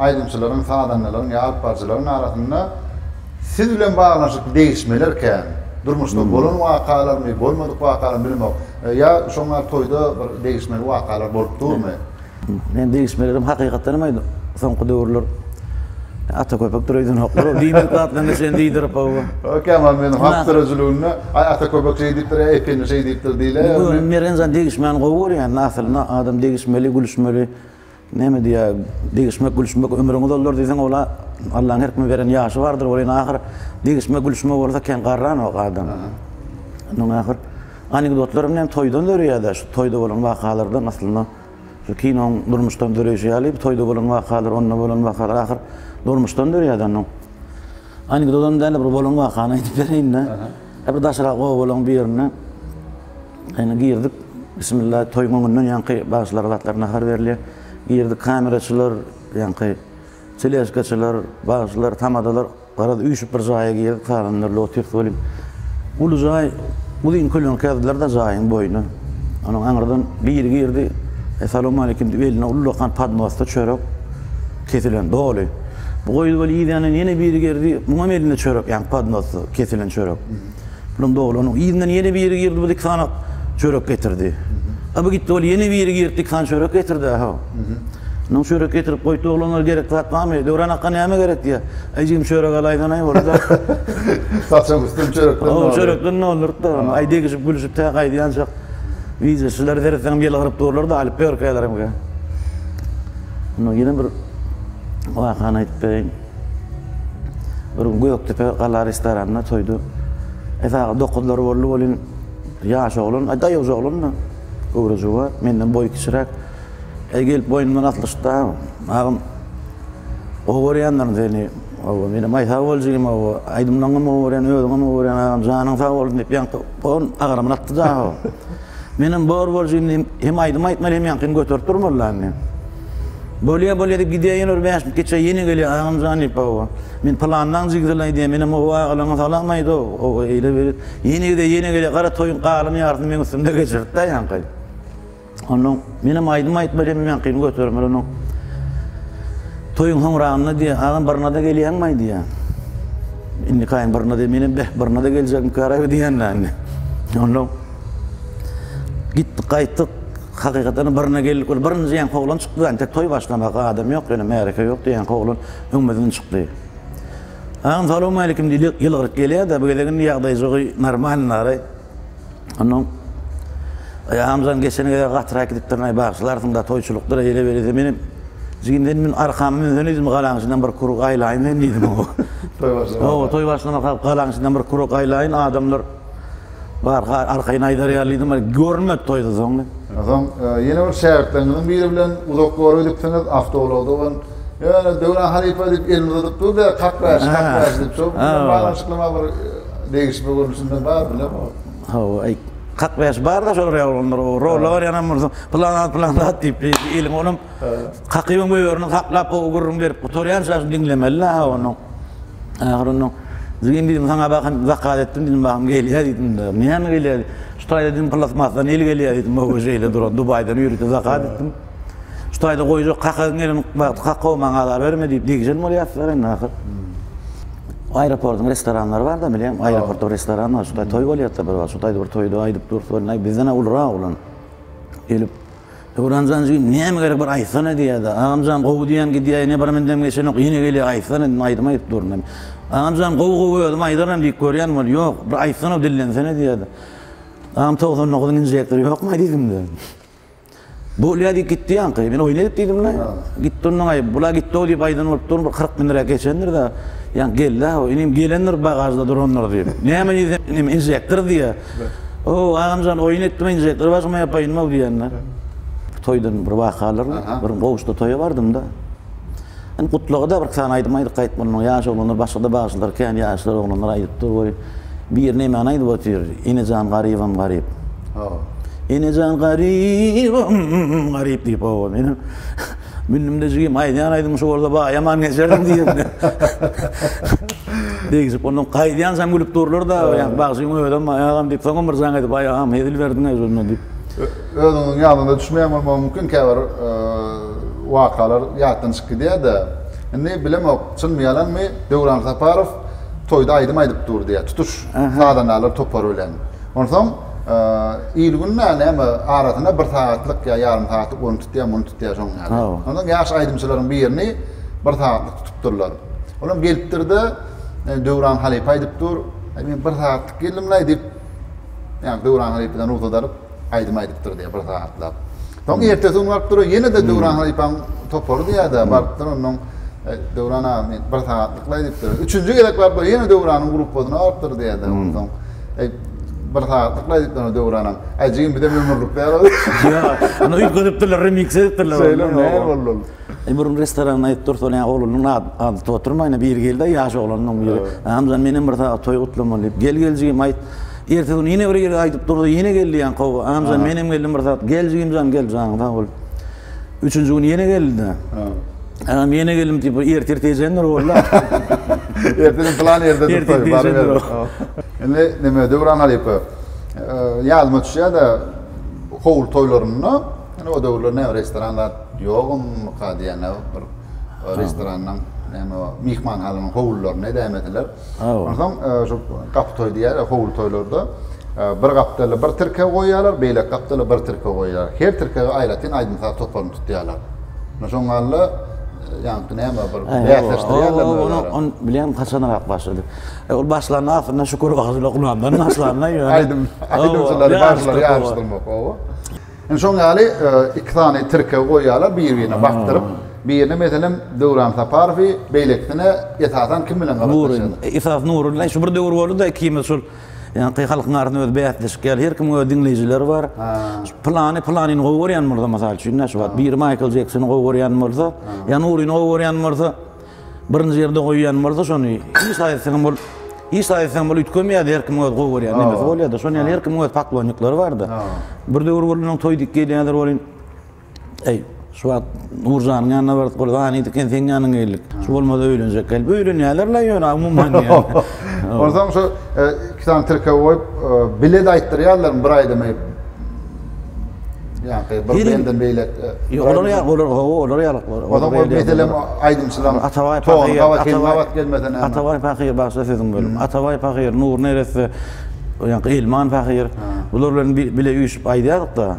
Speaker 1: aýdymçylaryň, sazandalaryň ýa alypbarjylaryň arasynda siz bilen baglanyşykly degişmeler kän. Durmuşda bolan wakalarmy, bolmadyk wakalarmy bilemok. Ýa şoňa toýda bir degişmeli wakalar bolup durmy? Men degişmelerim hakykatdan hem aýdym soňky döwürler ata köpek dureýdenoklar ol diýmek zatlaryny şeýle diýdirip gowy. Ýok ýaman men halk döredijiliginde aý ata köpek şeý diýipdir aý epini şeý diýipdir diýler. Göwün Meren jan degişmäni gowy görýän aslynda adam degişmeli gülüşmeli näme diýýär degişmek gülüşmek ömrüň uzaldar diýseň ola Allaň her kime beren ýaşy bardyr ol ýene ahyr degişmek gülüşmek bolsa kän garranok adam ondan ahyr anekdotlarym näme toýdan döreýär-dä şu toýda bolan wakalardan aslynda. Şu kinoň durmuşdan döreýşi ýaly, bu toýda bolan wakalar, onda bolan wakalar ahyr durmuşdan dörýär-de onuň. Anekdodam däl-de, bir bolan wakany aýdyp bereýin-de. Hä, bir daşrak obalaň birine ýene girdik. Bismilla, toýuň öňünden ýaňky bagşylara zatlar nahar berilýär. Girdik, kameraçylar, ýaňky teleskaçylar, bagşylar, tamadalar. Garaz, üýşüp bir jaýa girdik, salanlar lotus welin, uly jaý, uzyn köleňki ýazdylar-da jaýyň boýuna. Onuň aňyrdan biri girdi, Essalawmaleýkim diýip, elinde ullakan podnosda çörek, kesilen, doly. Bu goýdy welin, yzýandan ýene biri girdi, muňam elinde çörek, ýagny podnosda kesilen çörek. Bilen doglanyň yzyna ýene biri girdi, bu dikana çörek getirdi. A bu gitdi, ol ýene biri girdi, dikana çörek getirdi-ä ho. Ynam çörek getirip goýupdy, oglanlar gerekli zat barmy? Döwran aka näme gerek diýýär. Aý jigim çörek alaýsanaý bolsa. Saçak üstüni çörekden doldurdy. Ho, çörekden doldurdy-da. Aý degişip gülüşip tä gaýdýançak wideoçylar seretseňem ýylgyryp durlar-da, alyp ýörkälerem. Ynha ýene bir wakany aýdyp bereýin. Bir gün Gökdepe gala restoranynda toýda esaga dokuzlar boldy welin ýaş oglan, aý daýawja oglan-da, göwrejuwa, menden boýy kiçiräk. Eý gelip boýnumdan aslyşdy-da, agam, gowy görýändirin seni, oba, menem aý sag bol jigim, oba, aýdymlaryňam gowy görýän, özüňem gowy görýän agam, janyň sag bolsun diýip, ýaňky on agramyny atdy-da. Menem bor bolşy indi hem aýdym aýtmaly hem ýaňkyny göterip durmalyda indi. Bolýa bolýa diýip gidýäýen bir bäş geçe ýene gelýär agamjan diýip hawa. Men pylanlaň jigdeli aýdýan menem hawa agalaňa salam aýt o o eýle beýle. Ýene gidýär ýene gelýär gara toýuň galan ýarysyny meň üstümde geçiripdä ýaňky. Onnoň menem aýdym aýtmaly hem ýaňkyny götermeli onnoň. Toýuň hoňragynda diýýär agam birnada gelýäňmaý diýýär. Indikaýyn birnada menem beh birnada geljekmikaraý diýýän-dä indi. Onnoň Gitdik gaýtdyk. Hakykatanam birine geldik. Ol birinji ýaňky oglan çykdy. Entek toý başlamaka adam ýok ýöne märeke ýokdy. Ýaňky oglan öňümizden çykdy. Agam salowmaleýkim diýdi. Ýylgyryp gelýär-de bu gezek indi ýagdaýjygy normalnary. Onnoň Aý agamjan geçen gezek gatyrak gidipdirin-aý bagyşlarsyň-da toýçulykdyr eýle-beýle diýdi. Menem Jigim sen meni arkama münsene diýdim galaň içinden bir kuruk aýlaýyn men diýdim oňa. Toý başlamaka. Toý başlamaka galaň içinden bir kuruk aýlaýyn adamlar. Barha arkaýyn aýdar ýalydyň, bir görünmedi toýda soň. Soň ýene bir şägirtleriňiziň biri bilen uzak ýola gidipsiňiz, awtoulagda ol Ýöne Döwran halypa diýip elini uzadyp durdy-da, kakbäşi, kakbäşi diýip, şol bilen baglanyşyklyma bir degişme görnüşinde bar bilem ol. Hawa, aý, kakbäşi bar-da şol ýaly olar, o rola barýanam bolsa, pylan zat, pylan zat diýip, eliň olam Hakybyň möýerini haklap o gürrüň berip gutarýança şuny diňlemeli-dä ha onuň. Ahyry onuň, Jigim diýdim saňa bahym zakat etdim diýdim bahym gelýä diýdim-de. Näme gelýä diýdi. Şu taýda diýdim plasmasdan el gelýä diýdim ho-o şeýle duran Dubaýdan ýörite zakat etdim. Şu taýda goýjak kakaň elin bagty kaka-ow maňa azar berme diýip degişen bolýarsylar indi ahyr. Aeroportyň restoranlary bar-da bilýäňmi? Aeroportda restoran bar. Şu taý toý bolýar-da bir wagt. Şu taýda bir toýda aýdyp dursa welin aý bizden-ä ulurak olar. Gelip. Döwranjan jigim näme gerek bir aýtsana diýýärdi. Agamjan gowy diýýän gidýär ine bir mündem geçenok ýene gelýär aýtsana indi aýdym aýdyp durun diýip. Agamjan gowy gowy özüm aýdaryn diýip görýän bol ýok bir aýtsana dillensene diýýärdi. Agam togsan dokuzyň injektory ýokmaý diýdimde. Bolýar diýip gitdi ýaňky men oýun edip diýdimde. Gitdi onnoňaý bula gitdi-ow diýip aýdan bolup durun bir kyrk müniräk geçendirda ýaňky geldi-ä o inim gelendir bagažda durandyr diýip. Näme diýsem inim injektor diýýär. Hoo, agamjan oýun etdim enje, gyr başyma ýapaýynmaw diýenler. Toýdan bir wakalar, bir goşda toýa bardymda. Indi Gutlagada birki sany aýdym aýdyp gaýtmalyň. Ýaş oglanlar başgada bagşylar kän ýaşlar oglanlar aýdyp dur we bir nämäni aýdyp otyr, Enejan garybam garyp. Hoo. Enejan garybam garyp diýip hoo. Mündüm-de jigim, aýdýan aýdymyň şu bolsa baýaman geçerdim diýibdi. Degişip, ondan gaýdýançam gülüp durlar-da, ýa bagşyň özem, aý agam diýip, soňam bir jan edip, aý agam, hezil berdiň-ä özüne diýip. Özüňiziň ýadyňyza düşmeýän bolmagy mümkin käbir wakalar ýatdan çykyp gidýär-de. Indi bilemok, çynmy, ýalanmy, Döwran Saparow toýda aýdym aýdyp dur diýýär, tutuş sazandalar topary bilen. Onsoň. il-günde näme arasynda bir sagatlyk ýa ýarym sagatlyk ony tutýar, muny tutýar şoň ýaly. Ondan ýaş aýdymçylaryň birini bir sagatlyk tutupdyrlar. Olam gelipdir-de, e, Döwran halypa aýdyp dur. Aý men bir sagatlyk geldim-laý diýip, ýa Döwran halypadan rugsat alyp, aýdym aýdypdyr diýýär bir sagatlap. Soň ertesi gün baryp durar, ýene-de Döwran halypaň topary diýer-de, barypdyr onnoň, Döwran aga, men bir sagatlyklaý diýipdir. Üçünji gezek barypdyr, ýene Döwranyň gruppasyna barypdyr diýer-de, onsoň, Eý, bir sagatlyklaý diýipdir onda Döwranam. Äý, jigim, bizem ömürlikdä bar. Ýa, ony üýtgedipdirler, remix edipdirler ony. Şeýle näme boldy ol? E bir gün restoranda aýdyp dursalar, ýa oglunyň ady tutup oturmaýyn-a, biri geldi-ä, ýaş oglanlaryň biri. Hamzan, menem bir sagat toý gutlamaly diýip. Gel geljigim, aýt. Ertesi gün ýene biri gelip aýdyp durdy, ýene geldi ýaňky oba. Hamzan, menem geldim bir sagat. Geljigim jan, gel, janyň sag bol. Üçünji gün ýene geldi-de. Agam, ýene geldim diýip, ertir-irki ejendir boldy-a. Ertesi gün plan ýerdedir toý, baryber. Indi näme, Döwran halypa, ýadyma düşýär-de, howul toýlarynda, Ýöne o döwürler näme restoran zat ýogmyka diýende bir restoranyň näme myhmanhanaň howlularynda edäýmediler. Onsoň e, şu gapy toý diýýärler, howul toýlarda e, bir gapdala bir tirkeg goýýarlar, beýleki gapdala bir tirkeg goýýarlar. Her tirkege aýratyn aýdym-saz toparyny tutýarlar. Şoň galla ýaňky näme bir bäsleşdirýärler Onu on bilýän haçanrak başlady. E, ol başlanda aslynda Şükür Wagzyla Gulamdan başlanda ýöne aýdym aýdymçylary başlar ýaryşdyrmak oba. Indi şoň ýaly iki sany tirkegi goýýarlar bir-birine bakdyryp. Birine meselem Döwran Saparowy, beýlekisine esasan kim bilen gabatlaşýarlar? Nury. Esas Nury bilen şu bir döwür boldy-da ikimiz şol ýaňky halkyň arasynda öz bäsleşik ýaly her kimiň öz diňleýjileri bar. Pylany pylanyny gowy görýän bolsa mysal üçin-dä şu wagt biri Maýkl Jeksony gowy görýän bolsa ýa Nuryny gowy görýän bolsa. Birinji ýerde goýýan bolsa şony hiç aýtsaňam bol hiç aýtsaňam bol üýtgemeýärdi her kim öz gowy görýän nemesi bolýardy şony ýaly her kim öz paklonniklary bardy bir döwür bolanda toý dik gelýärdi bolin eý şu wagt nurjanyň ýanyna bardyk ol zany dik sen ýanyňa geldik şu bolmasa öýlenjek gelip öýlenýärler la ýöne umuman onsoň şu e, iki sany tirkeg goýup e, bilet aýtdyrýarlar bir aýdymy Ýa-da bir benden beýlek. Ýok, olar ýa, olar gowy, olar ýa. Olar bir meselem aýdymçylaryň Atabaý Pahyr, Atabaý gelmesene. Atabaý Pahyr başda sözüm bölüm. Atabaý Pahyr, Nur Neresse, ýa-da Elman Pahyr. Bular bilen bile üýşüp aýdýardyk-da.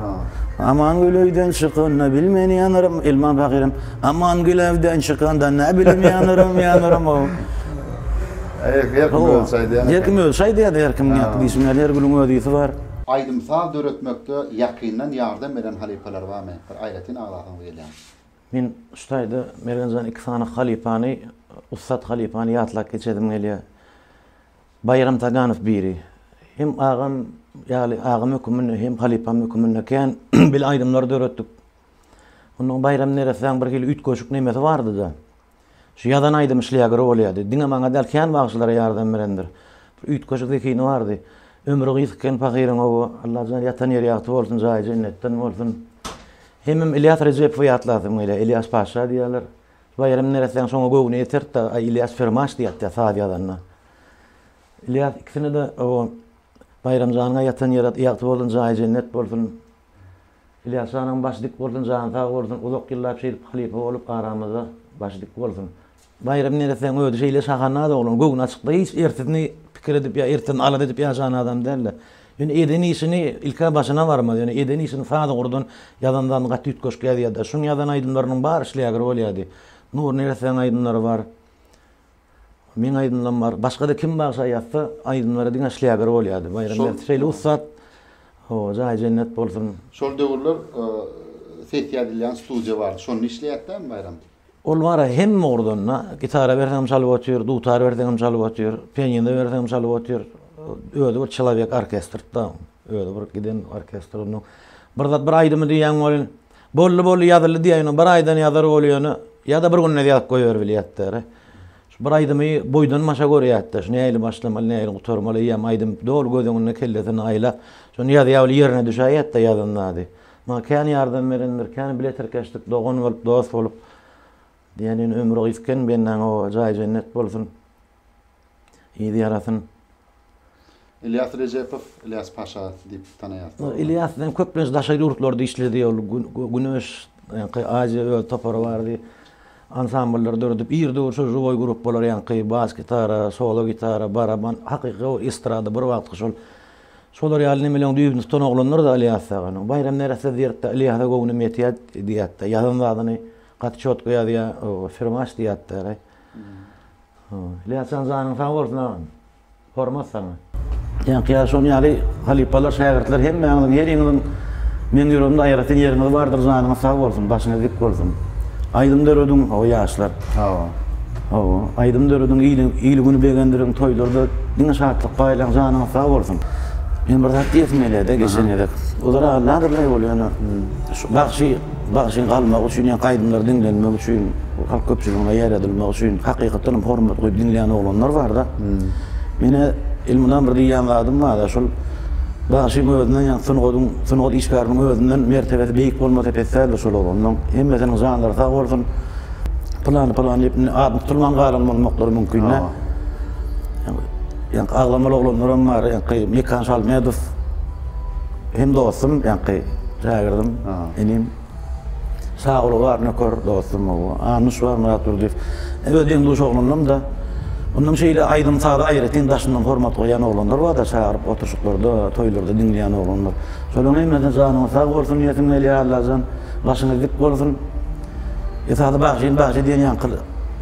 Speaker 1: Aman Gülewden çykanda bilmen ýanarym, Elman Pahyrym. Aman Gülewden çykanda nä bilim ýanarym, ýanarym. Her kim öz şaýdy ýa-da her kim ýa-da diýşim ýaly her gülüň öz ýüzi bar. Aýdym-saz döretmekde ýakyndan ýardam beren halypalar barmy? Bir aýratyn aglasaňyz gelýär. Men şu taýda Mergenjan iki sany halypany, ussat halypany ýatlap geçesim gelýär. Baýram Taganow biri. Hem agam ýaly, agam höküminde hem halypam höküminde kän bile aýdymlar döretdik. Onnoň Baýram neressäň birhili üýtgeşik nemesi bardy-da. Şu ýazan aýdymy şlýager bolýardy. Diňe maňa däl, kän bagşylara ýardam berendir. Bir üýtgeşik zehini bardy. Ömri gysg eken pahyryň-ow, Allajana ýatan ýeri ýagty bolsun, jaýy jennetden bolsun. Hemem Ylýas Rejepowy ýatlasym gelýär. Ylýas paşa diýýärler. Baýram neressäň şoňa göwni ýeterdi-de, Aý, Ylýas firmaş diýerdi-de saz ýazanda. Ylýas ikisine-de, ow, Baýramjanyň-a ýatan ýeri ýagty bolsun, jaýy jennet bolsun. Ylýas janyň başy dik bolsun jany sag bolsun uzak ýyllap şeýdip halypa bolup aramyzda başy dik bolsun. Baýram neressäň özi şeýle şahanaz oglan göwni açykda hiç ertesini pikir edip ýa ertesini alada edip ýaşan adam dälde. Ýöne eden işini ilk-ä başyna barmaz ýöne eden işini saz ugurdan ýazan zadyny gaty üýtgeşik ýazýada. Şuň ýazan aýdymlarynyň bary şleager bolýady. Nury neressäň aýdymlary bar. Meň aýdymlarym bar. Başga-da kim bagşa ýazsa, aýdymlary diňe şleager bolýardy. Baýram Berdiş şeýle ussat. Hawa, jaýy jennet bolsun. Şol döwürler sessiýa diýilýän studiýa bardy. Şonda işleýärdi dämi Baýram? Ol bar-a hemme ugurdan-da. Gitara berseňem çalyp otyr, dutar berseňem çalyp otyr, pianino berseňem çalyp otyr. Özi bir çelowek orkestrdi-da. Özi bir giden orkestr onuň. Bir zat, bir aýdymy diýýän welin, Boldy boldy ýazyldy diýýä ýöne bir aýdan ýazar ol ýöne ýada bir günde ýazyp goýber bilýät däri. Şu bir aýdymy boýdan başa görýätde şu nähili başlamaly nähili gutarmaly eýýäm aýdym doly göz öňünde kellesinde aýlap şony ýazýa weli ýerine düşäýýätde ýazan zady. Maňa kän ýardam berendir kän bile tirkeşdik dogan bolup dos bolup. Diýen ýöne ömri gysken bennaň o jaýy jennet bolsun. Yzy ýarasyn. Ylýas Rejepow, Ylýas Paşa diýip tanaýarsyňyzmy? Ylýas men köplenç daşary ýurtlarda işledi ol Güneş ýaňky Aziýa öz topary bardy. Ansambllar döredip ir döwür şol žuwoý gruppalar ýaňky bas gitara, solo gitara, baraban hakyky o estrada bir wagtky şol şolar ýaly nemeleriň düýbüni tutan oglanlardy Ylýas aganyň. Baýram nere söz ýerik-de Ylýasa göwnüm ýetýär diýýärdi. Ýazan zadyny gaty çotga ýazýar, firmaç diýýärdi. Ilyasjan janyň sag bolsun agam. Hormat saňa. Ýaňky şon ýaly halypalar şägirtler hemmäňiziň heriňiziň meň ýüregimde aýratyn ýeriňiz bardyr janyňyz sag bolsun başyňyz dik bolsun. Aýdym dörediň hawa ýaşlar. Hawa. Hawa aýdym dörediň ili ili güni begendiriň toýlarda diňe şatlyk paýlaň janyňyz sag bolsun. Men bir zat diýesim gelýärde geçen gezek. Ozal aýdylýardy bolýa ýöne şu bagşy Bagşyň galmagy üçin ýa aýdymlary diňlenmegi üçin, halk köpçüligine ýaýradylmagy üçin hakykatdan hem hormat goýup diňleýän oglanlar barda. Menä Elmydam bir diýýän zadym barda, şol bagşyň özünden ýa sungatyň, sungat işgäriniň özünden mertebesi beýik bolmasa pes däldir şol oglanyň. Hemmesiniň janlary sag bolsun. Pylany pylany diýip indi adyny tutulman galan bolmaklary mümkin-dä. Ýa agzamaly oglanlaram bar, ýa-da Mekan Şalmedow. Hem dostum ýaňky şägirdim, inim. Şaguly bar, nöker dostum bu. Annuş bar, Myrat Durdyýew. Öz deň-duş oglanlarym-da. Ondan şeýle aýdym-saza aýratyn daşyndan hormat goýýan oglanlar bar-da, çagyryp oturyşyklarda, toýlarda diňleýän oglanlar. Şolaryň hemmesine janyňyz sag bolsun diýesim gelýär, Allajan, başyňyz dik bolsun. Esasy bagşym, bagşy diýen ýaňky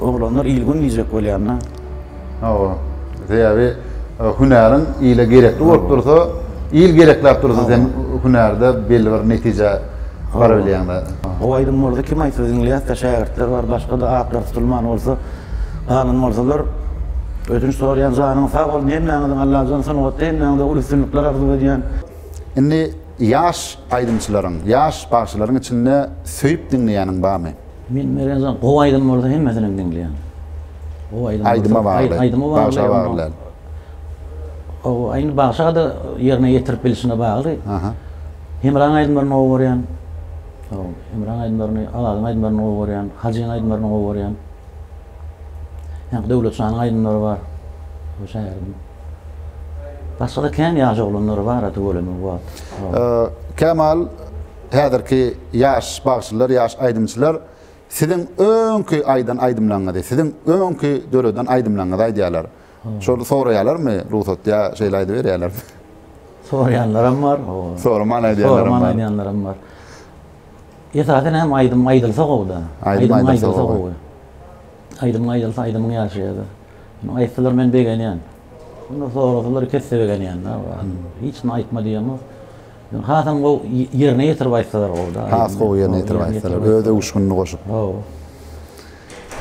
Speaker 1: oglanlar il-gün diýjek bolýan-da. Hawa. Sebäbi e, hünäriň ile gerekli bolup dursa, il gerekläp dursa sen hünärde belli bir netijä baryp bilýäňde. O aýdym bolsa kim aýtsa diňleýäsde şägirtler bar başgada atlar tutulman bolsa galan bolsalar ödünç sorýan janyň sag bolsun hemmäňiziň Allajan sungatda hemmäňize uly üstünlikler arzuw edýän. Indi ýaş aýdymçylaryň, ýaş bagşylaryň içinde söýüp diňleýäniň barmy? Men Merenzan gowy aýdym bolsa hemmesinem diňleýän. Gowy aýdym bolsa. Aýdyma bagly. Aýdyma bagly. Bagşa bagly. Gowy aýny bagşada ýerine ýetirip bilişine bagly. Aha. Hemraň aýdymlaryny gowy görýän. Gowy. Hemraň aýdymlaryny, Azadyň aýdymlaryny gowy görýän. Hajyň aýdymlaryny gowy görýän. Ýa-da Döwletjanyň aýdymlary bar. Bu şäheriň. Başgada kän ýaş oglanlar bar-a tüweleme bu wagt. Kemal. Häzirki ýaş bagşylar, ýaş aýdymçylar siziň öňki aýdan aýdymlaňyzy, siziň öňki döreden aýdymlaňyzy aýdýarlar. Şol soraýarlarmy rugsat ýa şeýle aýdyberýärlermi? Soraýanlaram bar. Soraman aýdýanlaram bar. aýdýanlaram bar. Esasan hem aýdym aýdylsa gowy-da. Aýdym aýdylsa gowy. Aýdym aýdylsa aýdymyň ýaşaýar. Aýtsalar men begenýän. Onda sorasalar kesse begenýän-de. Hiç kimi aýtma diýemok. Hasam gowy ýerine ýetirip aýtsalar gowyda. Has gowy ýerine ýetirip aýtsalar, öz öwüşginini goşup. Hawa.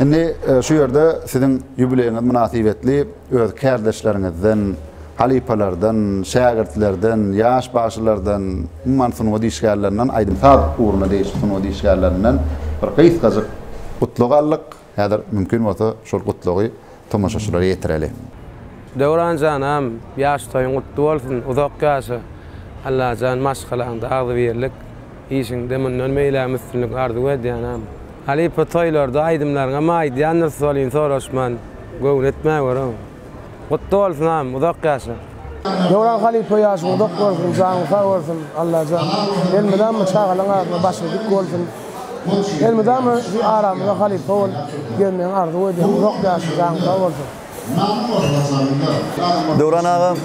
Speaker 1: Indi şu ýerde siziň ýubileýiňiz mynasybetli öz kärdeşleriňizden, halypalardan, şägirtlerden, ýaş bagşylardan, umuman sungat işgärlerinden, aýdym-saz ugruna degişli sungat işgärlerinden bir gysgajyk gutlag aldyk. Häzir mümkin bolsa şol gutlagy tomaşaçylara ýetireli. Döwran janam ýaş toýuň gutly bolsun uzak ýaşa Allajan maşgalaňda agzybirlik işiňde mundan beýlägem üstünlik arzuw edýänem. Halypa toýlarda aýdymlaryňam aýdýandyr solin soraşman göwün etmäweraw. Gutly bolsun abim uzak ýaşa. Döwran halypa ýaşyň uzak bolsun janyň sag bolsun Allajan elmydama çagalaň agzyna başyň dik bolsun elmydama şu aramyza halypa bol gelmegiňi arzuw edýän uzak ýaşa jaň sag bolsun. Döwran agam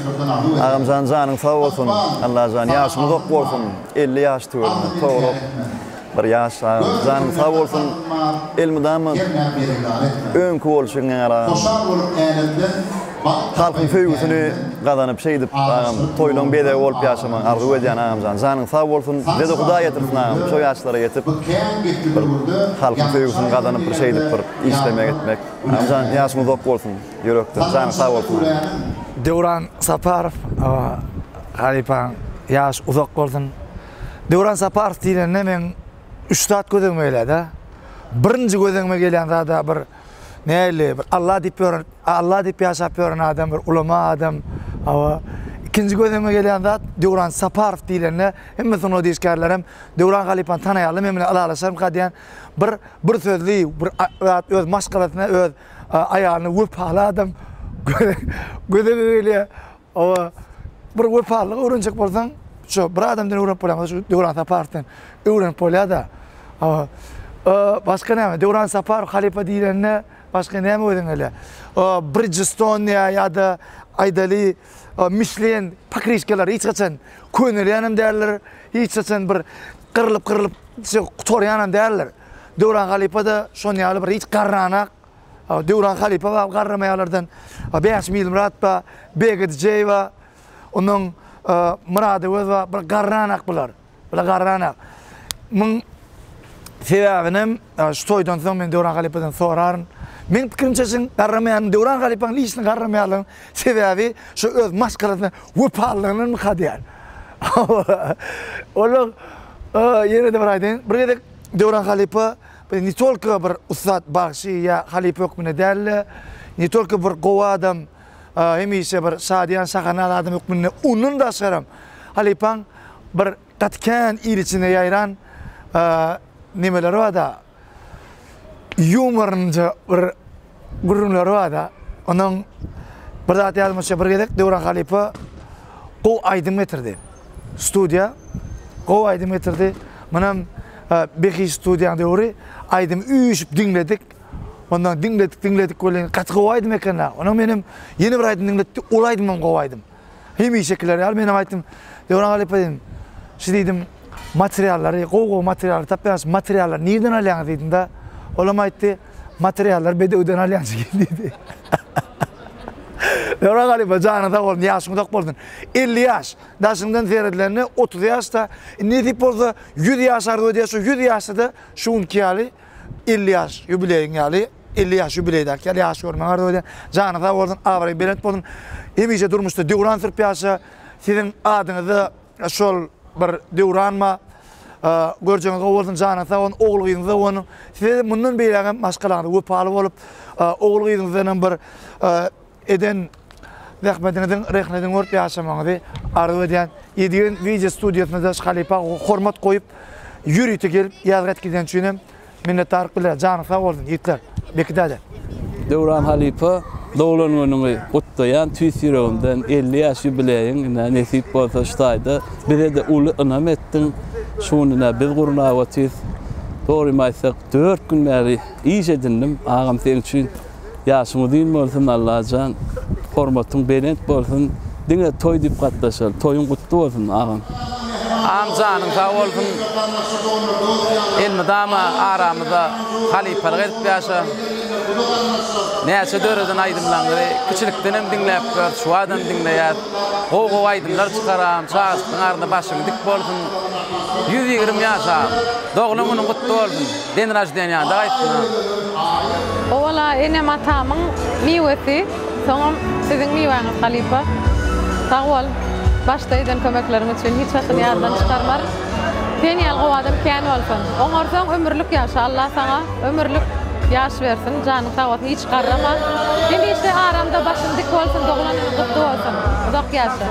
Speaker 1: agamjan janyň sag bolsun Allajan ýaşyň uzak bolsun elli ýaş tüweleme togrok. Bir ýaşa janyň sag bolsun elmydama öňki bolşuň ýaly halkyň söýgüsini gazanyp şeýdip agam toýlaň bezegi bolup ýaşamagyňy arzuw edýän agamjan janyň sag bolsun bizede hudaý ýetirsin agam şo ýaşlara ýetip bir halkyň söýgüsini gazanyp bir şeýdip bir işlemek etmek agamjan ýaşyň uzak bolsun ýürekden janyň sag bolsun agam. Döwran Saparow halypaň ýaşy uzak bolsun. Döwran Saparow diýlende men üç zat göz öňüme gelýärdi. Birinji göz öňüme gelýän zada bir näli bir Allah diýip ýören, Allah diýip ýaşap ýören adam, bir ulama adam. Hawa. Ikinji göz öňüme gelýän zat Döwran Saparow diýlende hemme sungat işgärleri hem Döwran halypany tanaýarlar, men bilen ylalaşarmyka diýen bir bir sözli, bir zat öz maşgalasyna, öz aýalyna wepaly adam göz öňüme gelýär. Oba bir wepalylygy öwrenjek bolsaň, şu bir adamdan öwrenip bolýar, şu Döwran Saparowydan öwrenip bolýar-da. Oba başga näme? Döwran Saparow halypa diýlende başga näme özüň ele? Bridgestone ýa-da aýdaly Michelin pakriçkalar hiç haçan könelýän hem däller, hiç haçan bir gyrlyp-gyrlyp gutarýan hem däller. Döwran halypa-da şonuň ýaly bir hiç garranak, Döwran halypa bar garramaýalardan, Bäşim Ilmyrat bar, Begit Jeýwa, ondan Myrat Öwez bar. Bular garranak bular. Bular garranak. Muň sebäbinem şu toýdan soň men Döwran halypadan soraryn. Meň pikirimçe şuň garramaýanyň Döwran halypanyň lişini garramaýarlaryň sebäbi şu öz maşgalasyna wepalylygynyň myka diýýän. Olar ýene-de bir aýdaýyn, bir gezek Döwran halypa Biz ne tolko bir ussat bagşy ýa halypa hökmünde däl-de, ne tolko bir gowy adam, hemişe bir şadyýan şahanaz adam hökmünde, ondan daşgaram halypaň bir gaty kän il içinde ýaýran nemeleri bar-da, ýumorynyja bir Gürrüňleri barda, onuň bir zat ýadymdaşýar, bir gezek Döwran halypa gowy aýdym getirdi. Studiýa gowy aýdym getirdi. Munam Behiş studiýanyň döwri aýdymy üýşüp diňledik. Ondan diňledik, diňledik welin gaty gowy aýdym eken-le. Onam menem ýene bir aýdym diňletdi, ol aýdymam gowy aýdym. Hemişekiler ýaly menem aýtdym. Döwran halypa diýdim. Şu diýdim, materiallary, gowy-gowy materiallary tapýaňyz, şu materiallary nireden alýaňyz diýdim-de. Olam aýtdy, materiallary bedewden alýan jigim diýdi. Döwran halypa janyň sag bolsun, ýaşyň uzak bolsun. Elli ýaş, daşyňdan seredilende otuz ýaşda, indi nesip bolsa ýüz ýaş arzuw edýäs, şo ýüz ýaşda-da şu günki ýaly elli ýaş ýubileýiň ýaly. Elli ýaş ýubileý däl kel ýaş görmäň arzuw edýän. Jany sag bolsun, abraýy belent bolsun. Hemişe durmuşda döwran sürüp ýaşa. Siziň adyňyzda şol bir döwranma. Görjegiňiz gowy bolsun, janyňyz sag bolsun, ogul gyzyňyza gowanyň. Size mundan beýlägem maşgalaňyza wepaly bolup, ogul gyzyňyzdan hem bir eden zähmediňiziň rehnedini görüp ýaşamagyňyzy arzuw edýän Ýedigen wideo studiýasyna daş halypa hormat goýup ýörite gelip ýazgy aýtyp gideni üçin hem minnetdarlyk bildirýän janyňyz sag bolsun ýigitler Beki däde. Döwran halypa doglan günüňi gutlaýan tüýs ýüregimden elli ýaş ýubileýiň ine nesip bolsa şu taýda bizede uly ynam etdiň şu gün ine biz gurnap otyrys dogrymy aýtsak dört gün bäri iş edindim agam seň üçin Ýaşyň uzyn bolsun Allajan hormatyň belent bolsun diňe toý dip gatnaşar toýuň gutly bolsun agam. Agam janyň sag bolsun elmydama aramyza halypalyk edip ýaşa näçe döreden aýdymlaňyzy kiçilikdenem diňläp gör şuwadam diňleýäs gowy gowy aýdymlar çykar agam çagajyklaň arasynda başyň dik bolsun ýüz ýigrimi ýaş agam doglan günüň gutly bolsun. Den raždeniýada gaýtdym. Owala enem atamyň miwesi soňam siziň miwäňiz halypa. Sag bol başda eden kömekleriň üçin hiç wagtyn ýatdan çykarmaryn. Sen ýaly gowy adam kän bolsun. Oňarsaň ömürlik ýaşa Allah saňa ömürlik ýaş bersin janyň sag bolsun hiç garrama. Hemişe aramda başyň dik bolsun doglan günüň gutly bolsun. Uzak ýaşa.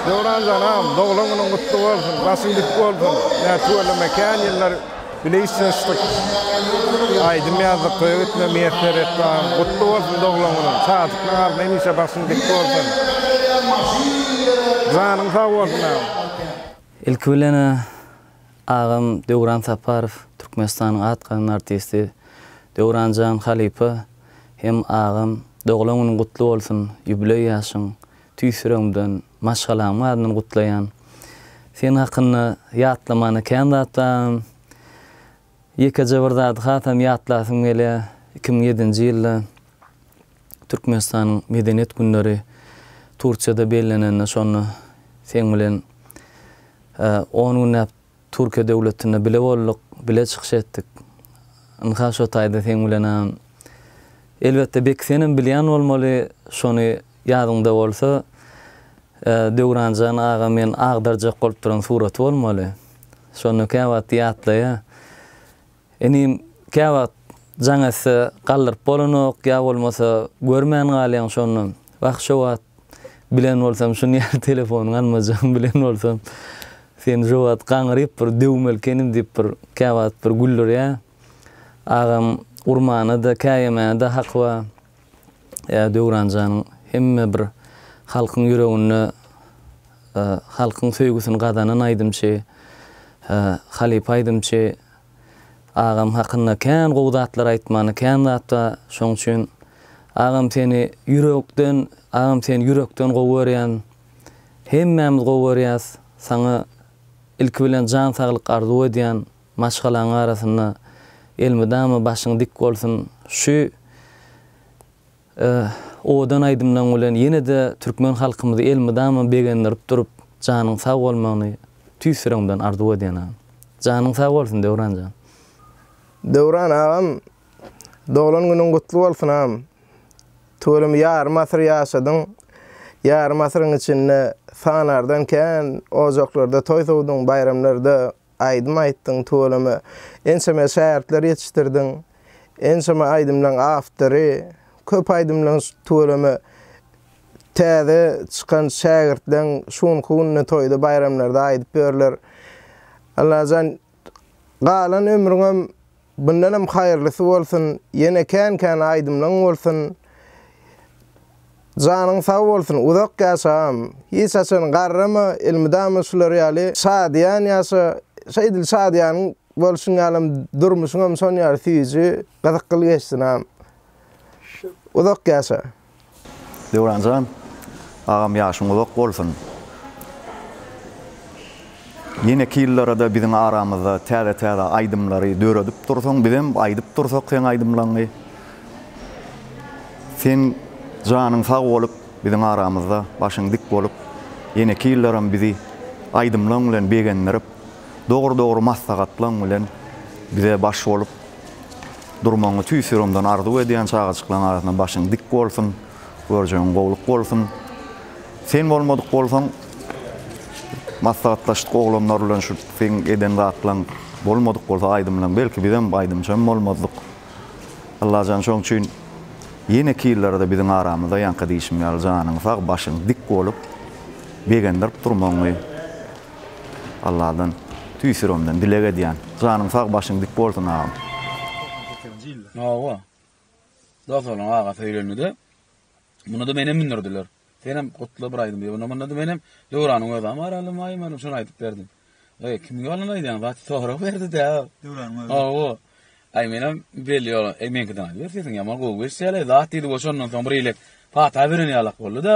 Speaker 1: Döwran janam doglan günüň gutly bolsun başyň dik bolsun näçe tüweleme kän ýyllar bile işleşdik aýdym ýazdyk toýa gitme miýesser et bagym gutly bolsun doglan günüň şadyklyklar arzuw hemişe başyň dik bolsun janyň sag bolsun agam. Ilki bilen agam Döwran Saparow Türkmenistanyň at gazanan artisti Döwranjan halypa hem agam doglan günüň gutly bolsun ýubileý ýaşyň Tüýs ýüregimden, maşgalamyň adyndan gutlaýan. Sen hakynda ýatlamana kän zat bar. Ýekeje bir zady hasam ýatlasym gelýär. Iki müň ýedinji ýylda Türkmenistanyň Medeniýet günleri Turkiýada bellenende şonda seň bilen on günläp Türkiýe döwletinde bile bolduk, bile çykyş etdik. Ynha şo taýda seň bilenem. Elbetde Beki senem bilýän bolmaly, şony ýadyňda bolsa, Döwranjan aga men agdarjak bolup duran suraty bolmaly. Şonda käwagtdy ýatlaýa. Inim, käwagt jaň etse, galdyryp bolanok, ýa bolmasa, görmän galýaň şonda. Wah, şo wagt bilen bolsam, şuny ýaly telefonyň almajagymy bilen bolsam, seni şo wagt gaňryp bir döwmeli ekenim diýip bir käwagt bir güldürýä. Agam urmana-da, käýemäne-de haky bar. Ýa Döwran janyň hemme bir halkyň ýüreginde halkyň söýgüsini gazanan aýdymçy, halypa aýdymçy. Agam hakynda kän gowy zatlar aýtmany kän zat ba şoň üçin agam seni ýürekden agam seni ýürekden gowy görýän hemmämiz gowy görýäs saňa ilki bilen jan saglyk arzuw edýän maşgalaň arasynda elmydama başyň dik bolsun şu Öh, owadan aýdymlaň bilen ýene-de türkmen halkymyzy elmydama begendirip durup, janyň sag bolmagyny tüýs ýüregimden arzuw edýän agam. Janyň sag bolsun Döwran jan. Döwran agam doglan günüň gutly bolsun agam. Tüweleme ýarym asyr ýaşadyň. Ýarym asyryň içinde sanardan kän ojaklarda toý sowduň, baýramlarda Aýdym aýtdyň tüweleme. Ençeme şägirtler ýetişdirdiň. Ençeme aýdymlaň awtory. Köp aýdymlaň tüweleme. Täze çykan şägirtleň şu günki günde toýda baýramlarda aýdyp ýörler. Allajan galan ömrüňem Bundanam haýyrlysy bolsun ýene kän kän aýdymlaň bolsun janyň sag bolsun uzak ýaşa agam hiç haçan garrama elmydama şular ýaly şadyýan ýaşa şeýdil şadyýan bolşuň ýalam durmuşyňam şon ýaly süýji gyzykly geçsin agam uzak ýaşa. Döwranjan agam ýaşyň uzak bolsun. Ýeneki ýyllarada biziň aramyzda täze täze aýdymlary döredip dursaň bizem aýdyp dursak seň aýdymlaňy. Sen janyň sag bolup biziň aramyzda başyň dik bolup ýeneki ýyllaram bizi aýdymlaň bilen begendirip Dogry dogry maslahatlaň bilen bize baş bolup durmagyňy tüýs ýüregimden arzuw edýän çagajyklaň arasynda başyň dik bolsun görjegiň gowluk bolsun sen bolmadyk bolsaň maslahatlaşdyk oglanlar bilen şu seň eden zatlaň bolmadyk bolsa aýdymlaň belki bizem aýdymçam bolmazdyk Allajan şoň üçin ýeneki ýyllarda biziň aramyzda ýaňky diýşim ýaly janyň sag başyň dik bolup begendirip durmagyňy. Alladan tüýs ýüregimden dileg edýän. Janyň sag başyň dik bolsun agam. Hawa. Dos olam aga söýlenide Munada menem mündürdiler. Senem gutla bir aýdym diýip. Munada menem Döwranyň özam bar alym maýym alym şony aýdyp berdim. Eý kimiň ýolundan aýdýaň zat sorag berdi dä. Döwranyň özem. Hawa. Aý menem belli ýol eý meňkiden aýdyber sesiň ýaman gowy eşidýäleý zat diýdi we şondan soň bir elek pata beren ýalak boldy-da.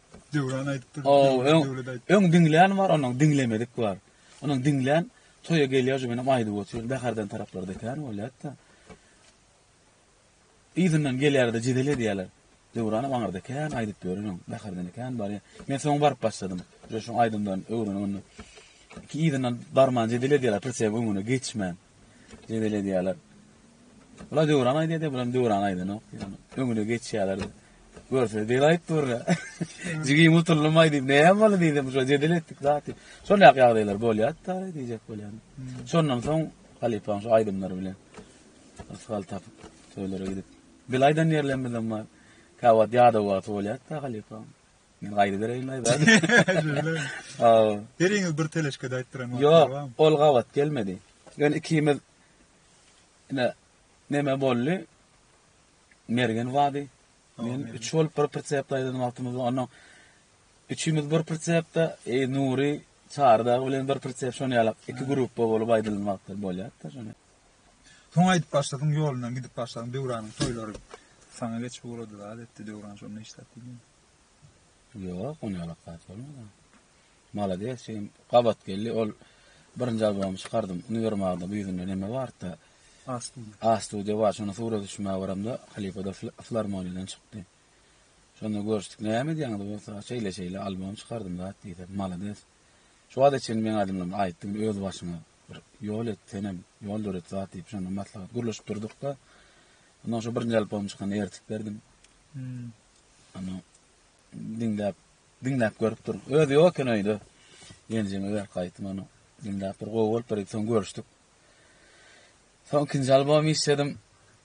Speaker 1: Döwran aýdyp durdy. Ow, öň, öň diňlän bar, onuň diňlemedik bar. Onuň diňlän toýa gelýär, şu menem aýdyp otyr, Bäherden taraplarda ekän bolýar-da. Yzyndan gelýärde jedel edýärler. Döwran hem aňyrda ekän, aýdyp ýören öň, Bäherden ekän barýar. Men soň baryp başladym. Şu aýdymdan öwrenip onda. Iki yzyndan barman jedel edýärler, pritsep öňüne geçmän. Jebel edýärler. Bula döwran aýdýar diýip, bulam döwran aýdanok. Ýöne öňüne geçýärler. Görse dil aýyp durla. Jigim utuldym aýdyp, näme boldy diýdim, şo jedel etdik zaty. Şol ýak ýagdaýlar bolýar da diýjek bolýan. Şondan soň halypaň şu aýdymlary bilen ysgal tapyp, toýlara gidip. Bil aýdan ýerlerimizem bar. Käwagt ýadaw wagty bolýar da halypaň. Men gaýda bereýin aý bäri. Aw. Beriňiz bir teleşke daýtdyran wagty. Ýok, ol gabat gelmedi. Ýöne ikimiz ine neme boldy? Mergen wady. Men üç bolup bir pritsep daýdan wagtymyz bar. Onda üçimiz bir pritsepde, e Nury Çardag bilen bir pritsep şony ýalak iki gruppa bolup aýdylan wagtlar bolýar-da şony. Soň aýdyp başladyň ýolundan gidip başladyň Döwranyň toýlary saňa geçip ugrady zat etdi Döwran şonda işläp bilmedi. Ýok, ony alakasy bolmady. Malades şeýim gabat geldi ol birinji albomy çykardym. Uniwermagda bu ýüzünde neme barda? A studio. A studio bar. Şonda surat düşmäge baramda halipa da filarmoniýadan çykdy. Şonda görüşdik. Näme edýäňiz bolsa şeýle şeýle albom çykardym zat diýdi. Malades. Şu wagta çenli meň adymdan aýtdyň öz başyňa. Bir ýol et senem, ýol döret zat diýip şonda maslahat gürleşip durduk-da. Ondan şu birinji alyp bolan çykany ertip berdim. Hmm. Ana diňläp, diňläp görüp dur. Özi ýok eken öýde. Genjime berip gaýtdym onu. Diňläp bir gowy bolup berip soň görüşdük. Soň ikinji albom işledim.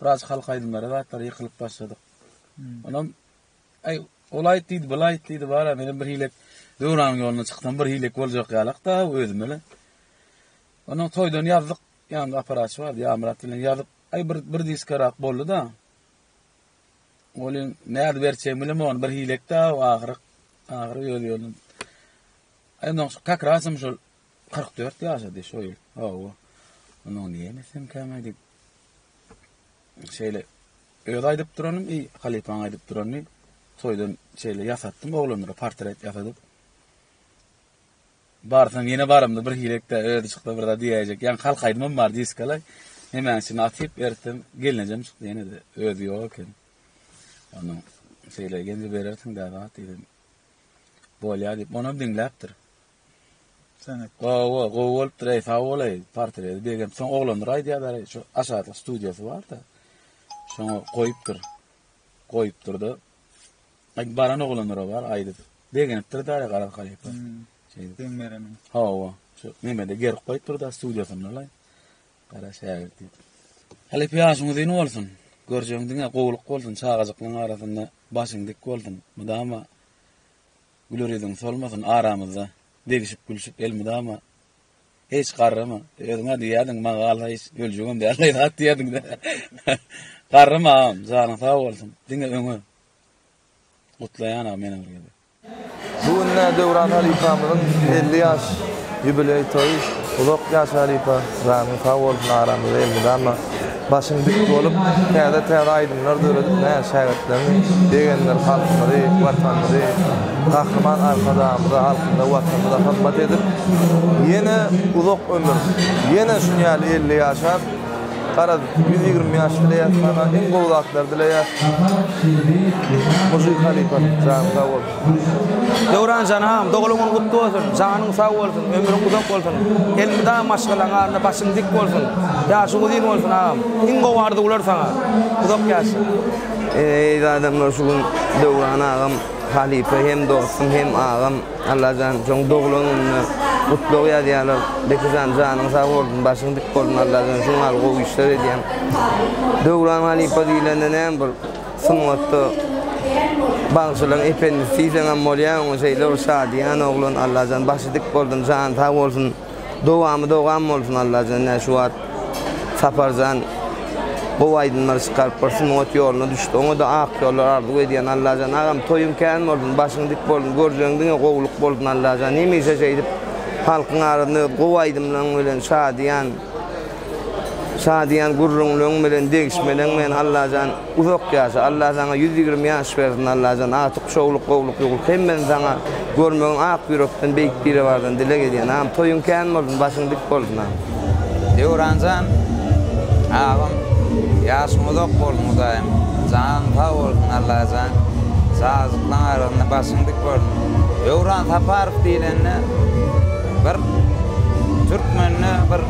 Speaker 1: Biraz halk aýdymlary zatlar ýykylyp başladyk. Onam aý ol aýt diýdi, bul aýt diýdi, bara menem bir hilek döwranyň ýoluna çyksam bir hilek boljak ýalak da özüme le. Onuň toýdan ýazdyk, ýanymda aparaçy bardy, Ýamyrat bilen ýazyp, aý bir bir diska rak boldy da. Olyň näde berçegimi bilemok, ony bir hilek da ahyry ahyry ýol ýolun. Aýdym şol kakrasym şol Kyrk dört ýaşady şo ýyl. Hawa. Munyň niýemesem käme diýip. Şeýle öz aýdyp duranym, eý, halypaň aýdyp duranyny toýdan şeýle ýasatdym oglanlara portret ýasadyp. Barsam ýene baramda bir hirekde özi çykdy bir zat diýäýjek. Ýaňky halk aýdymym bar diskala. Nemäň içine atyp ertesem gelnejem çykdy ýene-de özi ýok eken. Onuň şeýle geldi berersiň-dä zat diýdim. Bolýar diýip, onam diňläpdir. Sen et. Gowy gowy gowy bolupdyr eý sag bolaý portredi begem soň oglanlar aýdýarlar eý şu aşakda studiýasy barda şoňa goýupdyr goýupdyrda aý baran oglanlara bar aýdyp begenipdir daýy garaz halypa şeýdip deň bereniň hawa şu nemede gerip goýupdyrda studiýasynda laý gara şägirt diýip halypa ýaşyň uzyn bolsun görjegiň diňe gowulyk bolsun çagajyklaryň arasynda başyň dik bolsun mydama Güler ýüzüň solmasyn aramyzda Degişip gülşüp elmydama Hiç garrama özüňä diýýärdiň Maňa galsa hiç öljegem däl Daýza hat diýýärdiň-dä Garrama agam janyň sag bolsun Diňe öňe Gutlaýan agam ýene bir gezek. Bu günde Döwran halypamyzyň elli ýaş ýubileý toýy, uzak ýaş halypa, janyň sag bolsun aramyzda elmydama. Başyň dik bolup, täze-täze aýdymlar döredip, näz şägirtleriňi begendir, halkymyzy, Watanymyzy, Gahryman Arkadagymyza, halkymyza, Watanymyza hyzmat edip, ýene uzak ömür, ýene şuny ýaly elli ýaşap, garaz, ýüz ýigrimi ýaş dileýäs saňa, iň gowy zatlary dileýäs. Muji halypam, janyň sag bolsun! Döwran jan agam doglan gün gutly bolsun janyň sag bolsun ömrüň uzak bolsun elmydama maşgalaň arnda başyň dik bolsun ýaşyň uzyn bolsun agam iň gowy arzuwlar saňa uzak ýaşa. Eziz adamlar şu gün Döwran agam halypa hem dostum hem agam Allajan şoň doglan gününe gutlag ýazýalar Bekijan janyň sag bolsun başyň dik bolsun Allajan şuň ýaly gowy işler edýäň Döwran halypa diýlende näme bir Sungatda bagşylaň ependisi diýseňem bolýa oňa şeýle bir şadyýan oglan Allajan başy dik bolsun jany sag bolsun dowamy dowam bolsun Allajan nä şu wagt Saparjan gowy aýdymlar çykaryp bir sungat ýoluna düşdi oňada ak ýollar arzuw edýän Allajan agam toýuň kän bolsun başyň dik bolsun görjegiň diňe gowluk bolsun Allajan hemişe şeýdip halkyň arasynda öz gowy aýdymlaryň bilen şadyýan Şadyýan gürrüňleň bilen degişmeleň bilen Allajan uzak ýaşa Allah saňa ýüz ýigrimi ýaş bersin Allajan atyk şowluk gowluk ýugrup hemmesini saňa görmegin ak ýürekden beýik biribardan dileg edýän am toýuň kän bolsun başyň dik bolsun am. Döwranjan agam ýaşyň uzak bolsun hudaýym janyň sag bolsun Allajan saglyklaň arasynda başyň dik bolsun Döwran Saparow diýlende. Bir türkmende bir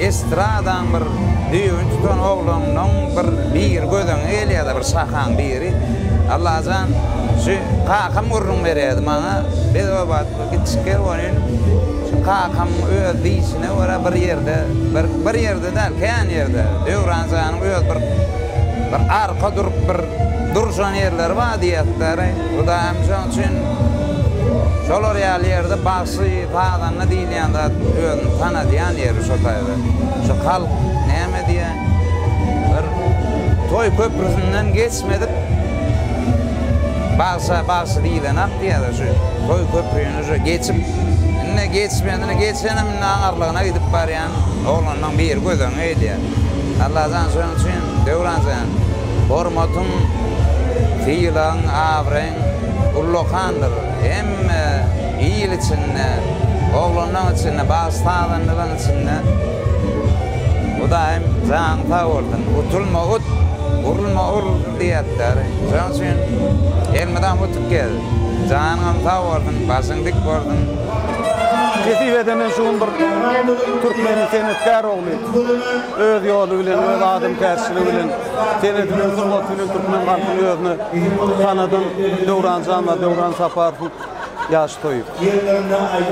Speaker 1: estradaň bir düýbüni tutan oglanyň bir biri gözüňe gelýärdi, bir şahaň biri. Allajan, şu kakam gürrüň berýärdi maňa. Biz o wagt kiçikdi welin, şu kakam öz diýşine görä bir ýerde, bir bir ýerde däl, kän ýerde, Döwran janyň öz bir bir arka durup bir durşan ýerleri bar diýýärdi-dä. Hudaýym şoň üçin şolar ýaly ýerde bagşy, sazanda diýilýän zat özüni tanadýan ýeri şo taýda. Şu halk näme diýýä, bir toý köprüsinden geçmedik bagşa bagşy diýilenak diýýäler şu toý köprüni şu geçip indi geçmedini geçenem indi aňarlygyna gidip barýan oglanlaryň biri göz öňüne gelýär. Allajan şoň üçin Döwranjan Hormatyň, sylagyň, abraýyň ullakandyr. Hemme il içinde, oglanlaň içinde, bagşy-sazandaryň içinde Hudaýym jaň sag bolsun. Utulma ut, urulma ur diýýätler. Şonuň üçin elmydam utup gez. Janyňam sag bolsun, başyň dik bolsun. Nesip ede men şu gün bir türkmeniň senetkär ogly. Öz ýoly bilen, öz adamkärçiligi bilen, seredilen sungaty bilen türkmen halkyny özüne tanadan Döwran janlar, Döwran Saparowyň ýaş toýy.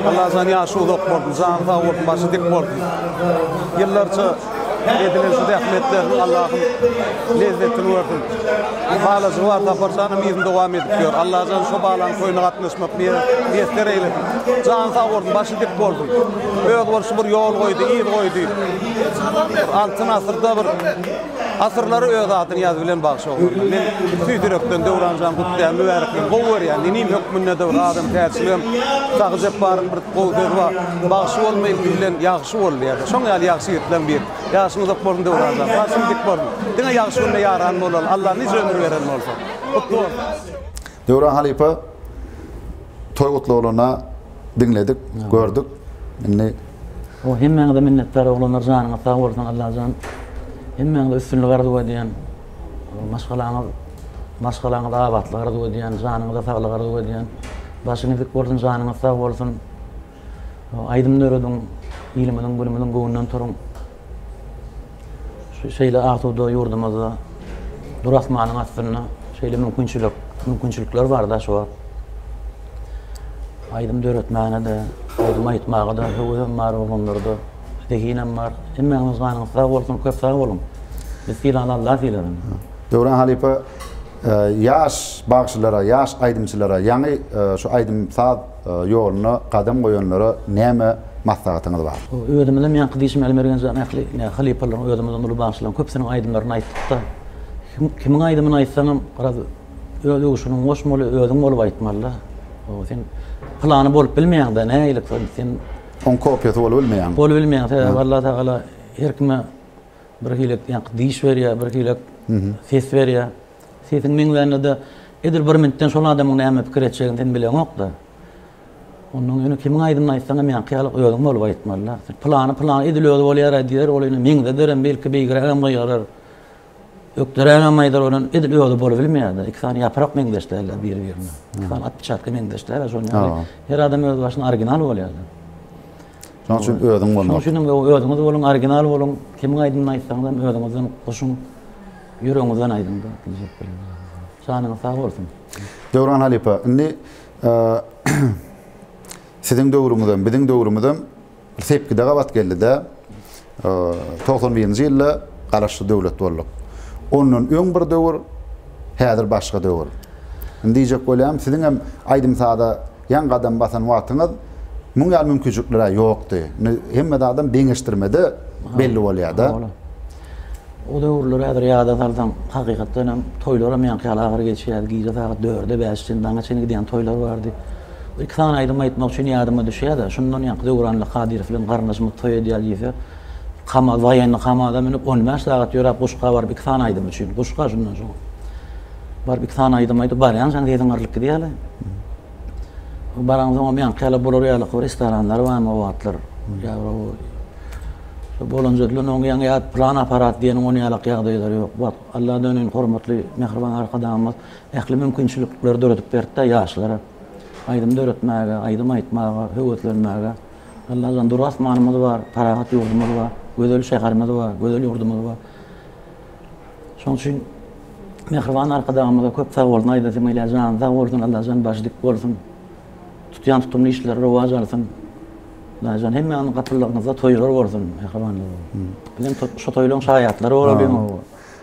Speaker 1: Allajan ýaşy uzak bolsun, jany sag bolsun, başy dik bolsun. Ýyllarça edilen şu zähmetleriniň Allahym lezzetini bersin. Halajygy bar Saparjanyň yzyny dowam edip ýör. Allajan şo balaň toýuna gatnaşmak miýesser eýlesin. Jany sag bolsun, başy dik bolsun. özboluşly bir ýol goýdy, yz goýdy. Altyn asyrda bir asyrlary öz adyny ýazyp bilen bagşy oglanlar. Men tüýs ýürekden Döwran jan gutlaýan, mübärekleýin. Gowy görýän, inim hökmünde-de bir adam täçligem, Sahy Jepbaryň bir gowy sözi bar, Bagşy bolma ilki bilen ýagşy bol diýýär. Şoň ýaly ýagşy ýigitleň biri. Ýaşyň uzak bolsun Döwran jan, başyň dik bolsun. Diňe ýagşy günde ýaran bolaly, Alla nice ömür beren bolsa. Gutly bolsun. Döwran halypa toý gutlaglaryna diňledik, gördük. Indi O hemmäňize minnetdar oglanlar janyňyz sag bolsun Allajan hemmäňize üstünlik arzuw edýän maşgalaňyz maşgalaňyza abatlyk arzuw edýän janyňyza saglyk arzuw edýän başyňyz dik bolsun janyňyz sag bolsun. Aýdym dörediň, ilimiziň, günümiziň göwnünden turuň. Şeýle asuda ýurdumyzda, dur asmanyň astynda şeýle mümkinçilik, mümkinçilikler bar daş wagt. Aýdym döretmäne-de, aýdym aýtmaga-da höwesem bar oglanlarda, zehinem bar. Hemmäňiziň janyňyz sag bolsun, köp sag boluň. Biz sylany Allah sylasyn. Döwran halypa, ýaş bagşylara, ýaş aýdymçylara, ýaňy şu aýdym-saz ýoluna gadam goýanlara näme maslahatyňyz bar? Özümizem ýaňky diýşim Aly Mergenjan ähli ine halypalaryň özümizden uly bagşylaryň köpüsiniň aýdymlaryny aýtdykda kimiň aýdymyny aýtsaňam biraz öz öwüşginiň goşmaly özüň bolup aýtmalyda o sen pylany bolup bilmeýäňdä näilik sen oň kopiýasy bolup bilmeýäň bolup bilmeýäň sebäbi Alla tagala her kime bir hili ýaňky diş berýär bir hili ses berýär. Sesiň meňzände-de, edil bir minitden şol adamyň näme pikir etjegini sen bileňok-da. Onnoň ýöne kimiň aýdymyny aýtsaňam ýaňky ýaly özüň bolup aýtmaly-da. Pylany pylany edil özi bolýar-aý diýer, ol indi meňzederem, belki beýgrägem gygyrar, ökderägem aýdar, ol indi edil özi bolubilmeýär-de. Iki sany ýaprak meňzeş däl-ä biri-birine. Iki sany atpiçatka meňzeş däl-ä şonuň ýaly. Her adam öz başyna original bolýar-da. Şonuň üçin özüň bolmaly. Şonuň üçin hem özüňiz boluň, original boluň, kimiň aýdymyny aýtsaňyzam özüňizden goşuň. Ýüregiňizden aýdyňda diýjek bilen ýazyň. Janyňyz sag bolsun. Döwran halypa, indi siziň döwrüňizem, biziň döwrümizem bir sepgide gabat geldi-dä. Togsan birinji ýylda Garaşsyz döwlet bolduk. Ondan öň bir döwür, häzir başga döwür. Indi diýjek bolýarym, siziňem aýdym-saza ýaňy gadam basan wagtyňyz muň ýaly mümkinçilikler-ä ýokdy. Indi hemme zadam deňeşdirmede belli bolýar-da. O döwürleri häzir ýada salsaň, hakykatdan hem toýlaram ýaňky ýaly agyr geçýärdi. Gije sagat dörde, bäşe çenli, daňa çenli gidýän toýlar bardy. Iki sany aýdym aýtmak üçin ýadyma düşýär-de, şundan ýaňky Döwranly Kadyrow bilen garyndaşymyz toý edýär diýse, Kamaz, woýenny Kamaza münüp, on bäş sagat ýöräp, Guşga baryp iki sany aýdym üçin, Guşga şundan soň. Baryp iki sany aýdym aýdyp, barýançaň sesiň gyrlyp gidýär-le. Baraňsoňam ýaňky ýaly bular ýaly bir restoranlar barmy o wagtlar? Bolanja diýen oň ýaňy ýat plan aparat diýen oň ýalak ýagdaýlar ýok. Wah, Alla döneýin hormatly mähriban Arkadagymyz ähli mümkinçilikleri döredip berdi-de ýaşlara. Aýdym döretmäge, aýdym aýtmaga höweslenmäge. Allajan dur asmanymyz bar, parahat ýurdumyz bar, gözel şäherimiz bar, gözel ýurdumyz bar. Şoň üçin Mähriban Arkadagymyza köp sag bolsun, aýdasym gelýär, jany sag bolsun, Allajan başy dik bolsun, tutýan tutumly işleri rowaç alsyn. Allajan hemmäňiziň gapylaryňyzda toýlar bolsun, mähribanlar. Biz hem şo toýlaryň şaýatlary bolalyň.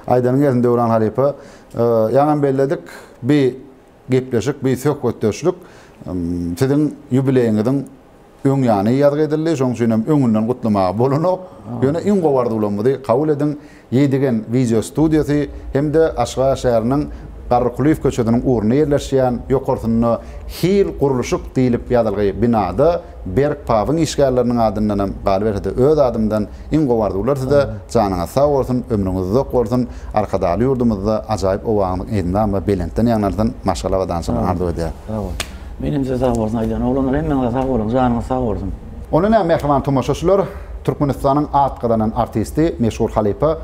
Speaker 1: Aýdanyň gelsin Döwran halypa. Ýaňam belledik, bi Gepleşik bi söhbetdeşlik siziň ýubileýiňiziň öň ýany ýazgy edildi, şoň üçin hem öňünden gutlamaga bolanok. Ýöne iň gowy arzuwlarymyzy kabul ediň, Ýedigen wideo studiýasy hem-de Aşgabat şäheriniň Garrykulyýew köçesiniň ugrunda ýerleşýän, ýokarsynda Hil gurluşyk diýlip ýazylgy binada, Berk pabyň işgärleriniň adyndanam galyberse-de öz adymdan iň gowy arzuwlar size, janyňyz sag bolsun, ömrüňiz uzak bolsun, Arkadagly ýurdumyzda ajaýyp owaňyz eýdnama belentden ýaňlansyn, maşgala abadançylygyny arzuw edýäs. Sag bol. Menem size sag bolsun aýdýan. Oglanlar hemmäňize sag boluň, janyňyz sag bolsun. Onda nä mähriban tomaşaçylar, Türkmenistanyň at gazanan artisti, meşhur halypa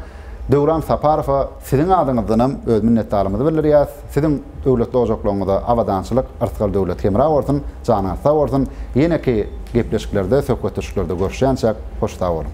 Speaker 1: Döwran Saparowa, Siziň adyňyzdanam öz minnetdarlygymyzy bildirýäs. Siziň döwletli ojaklaryňyza abadançylyk, yrtgal döwlet hemra bolsun, janyňyz sag bolsun, ýeneki gepleşiklerde, söhbetdeşliklerde görüşýänçäk, hoş sag boluň!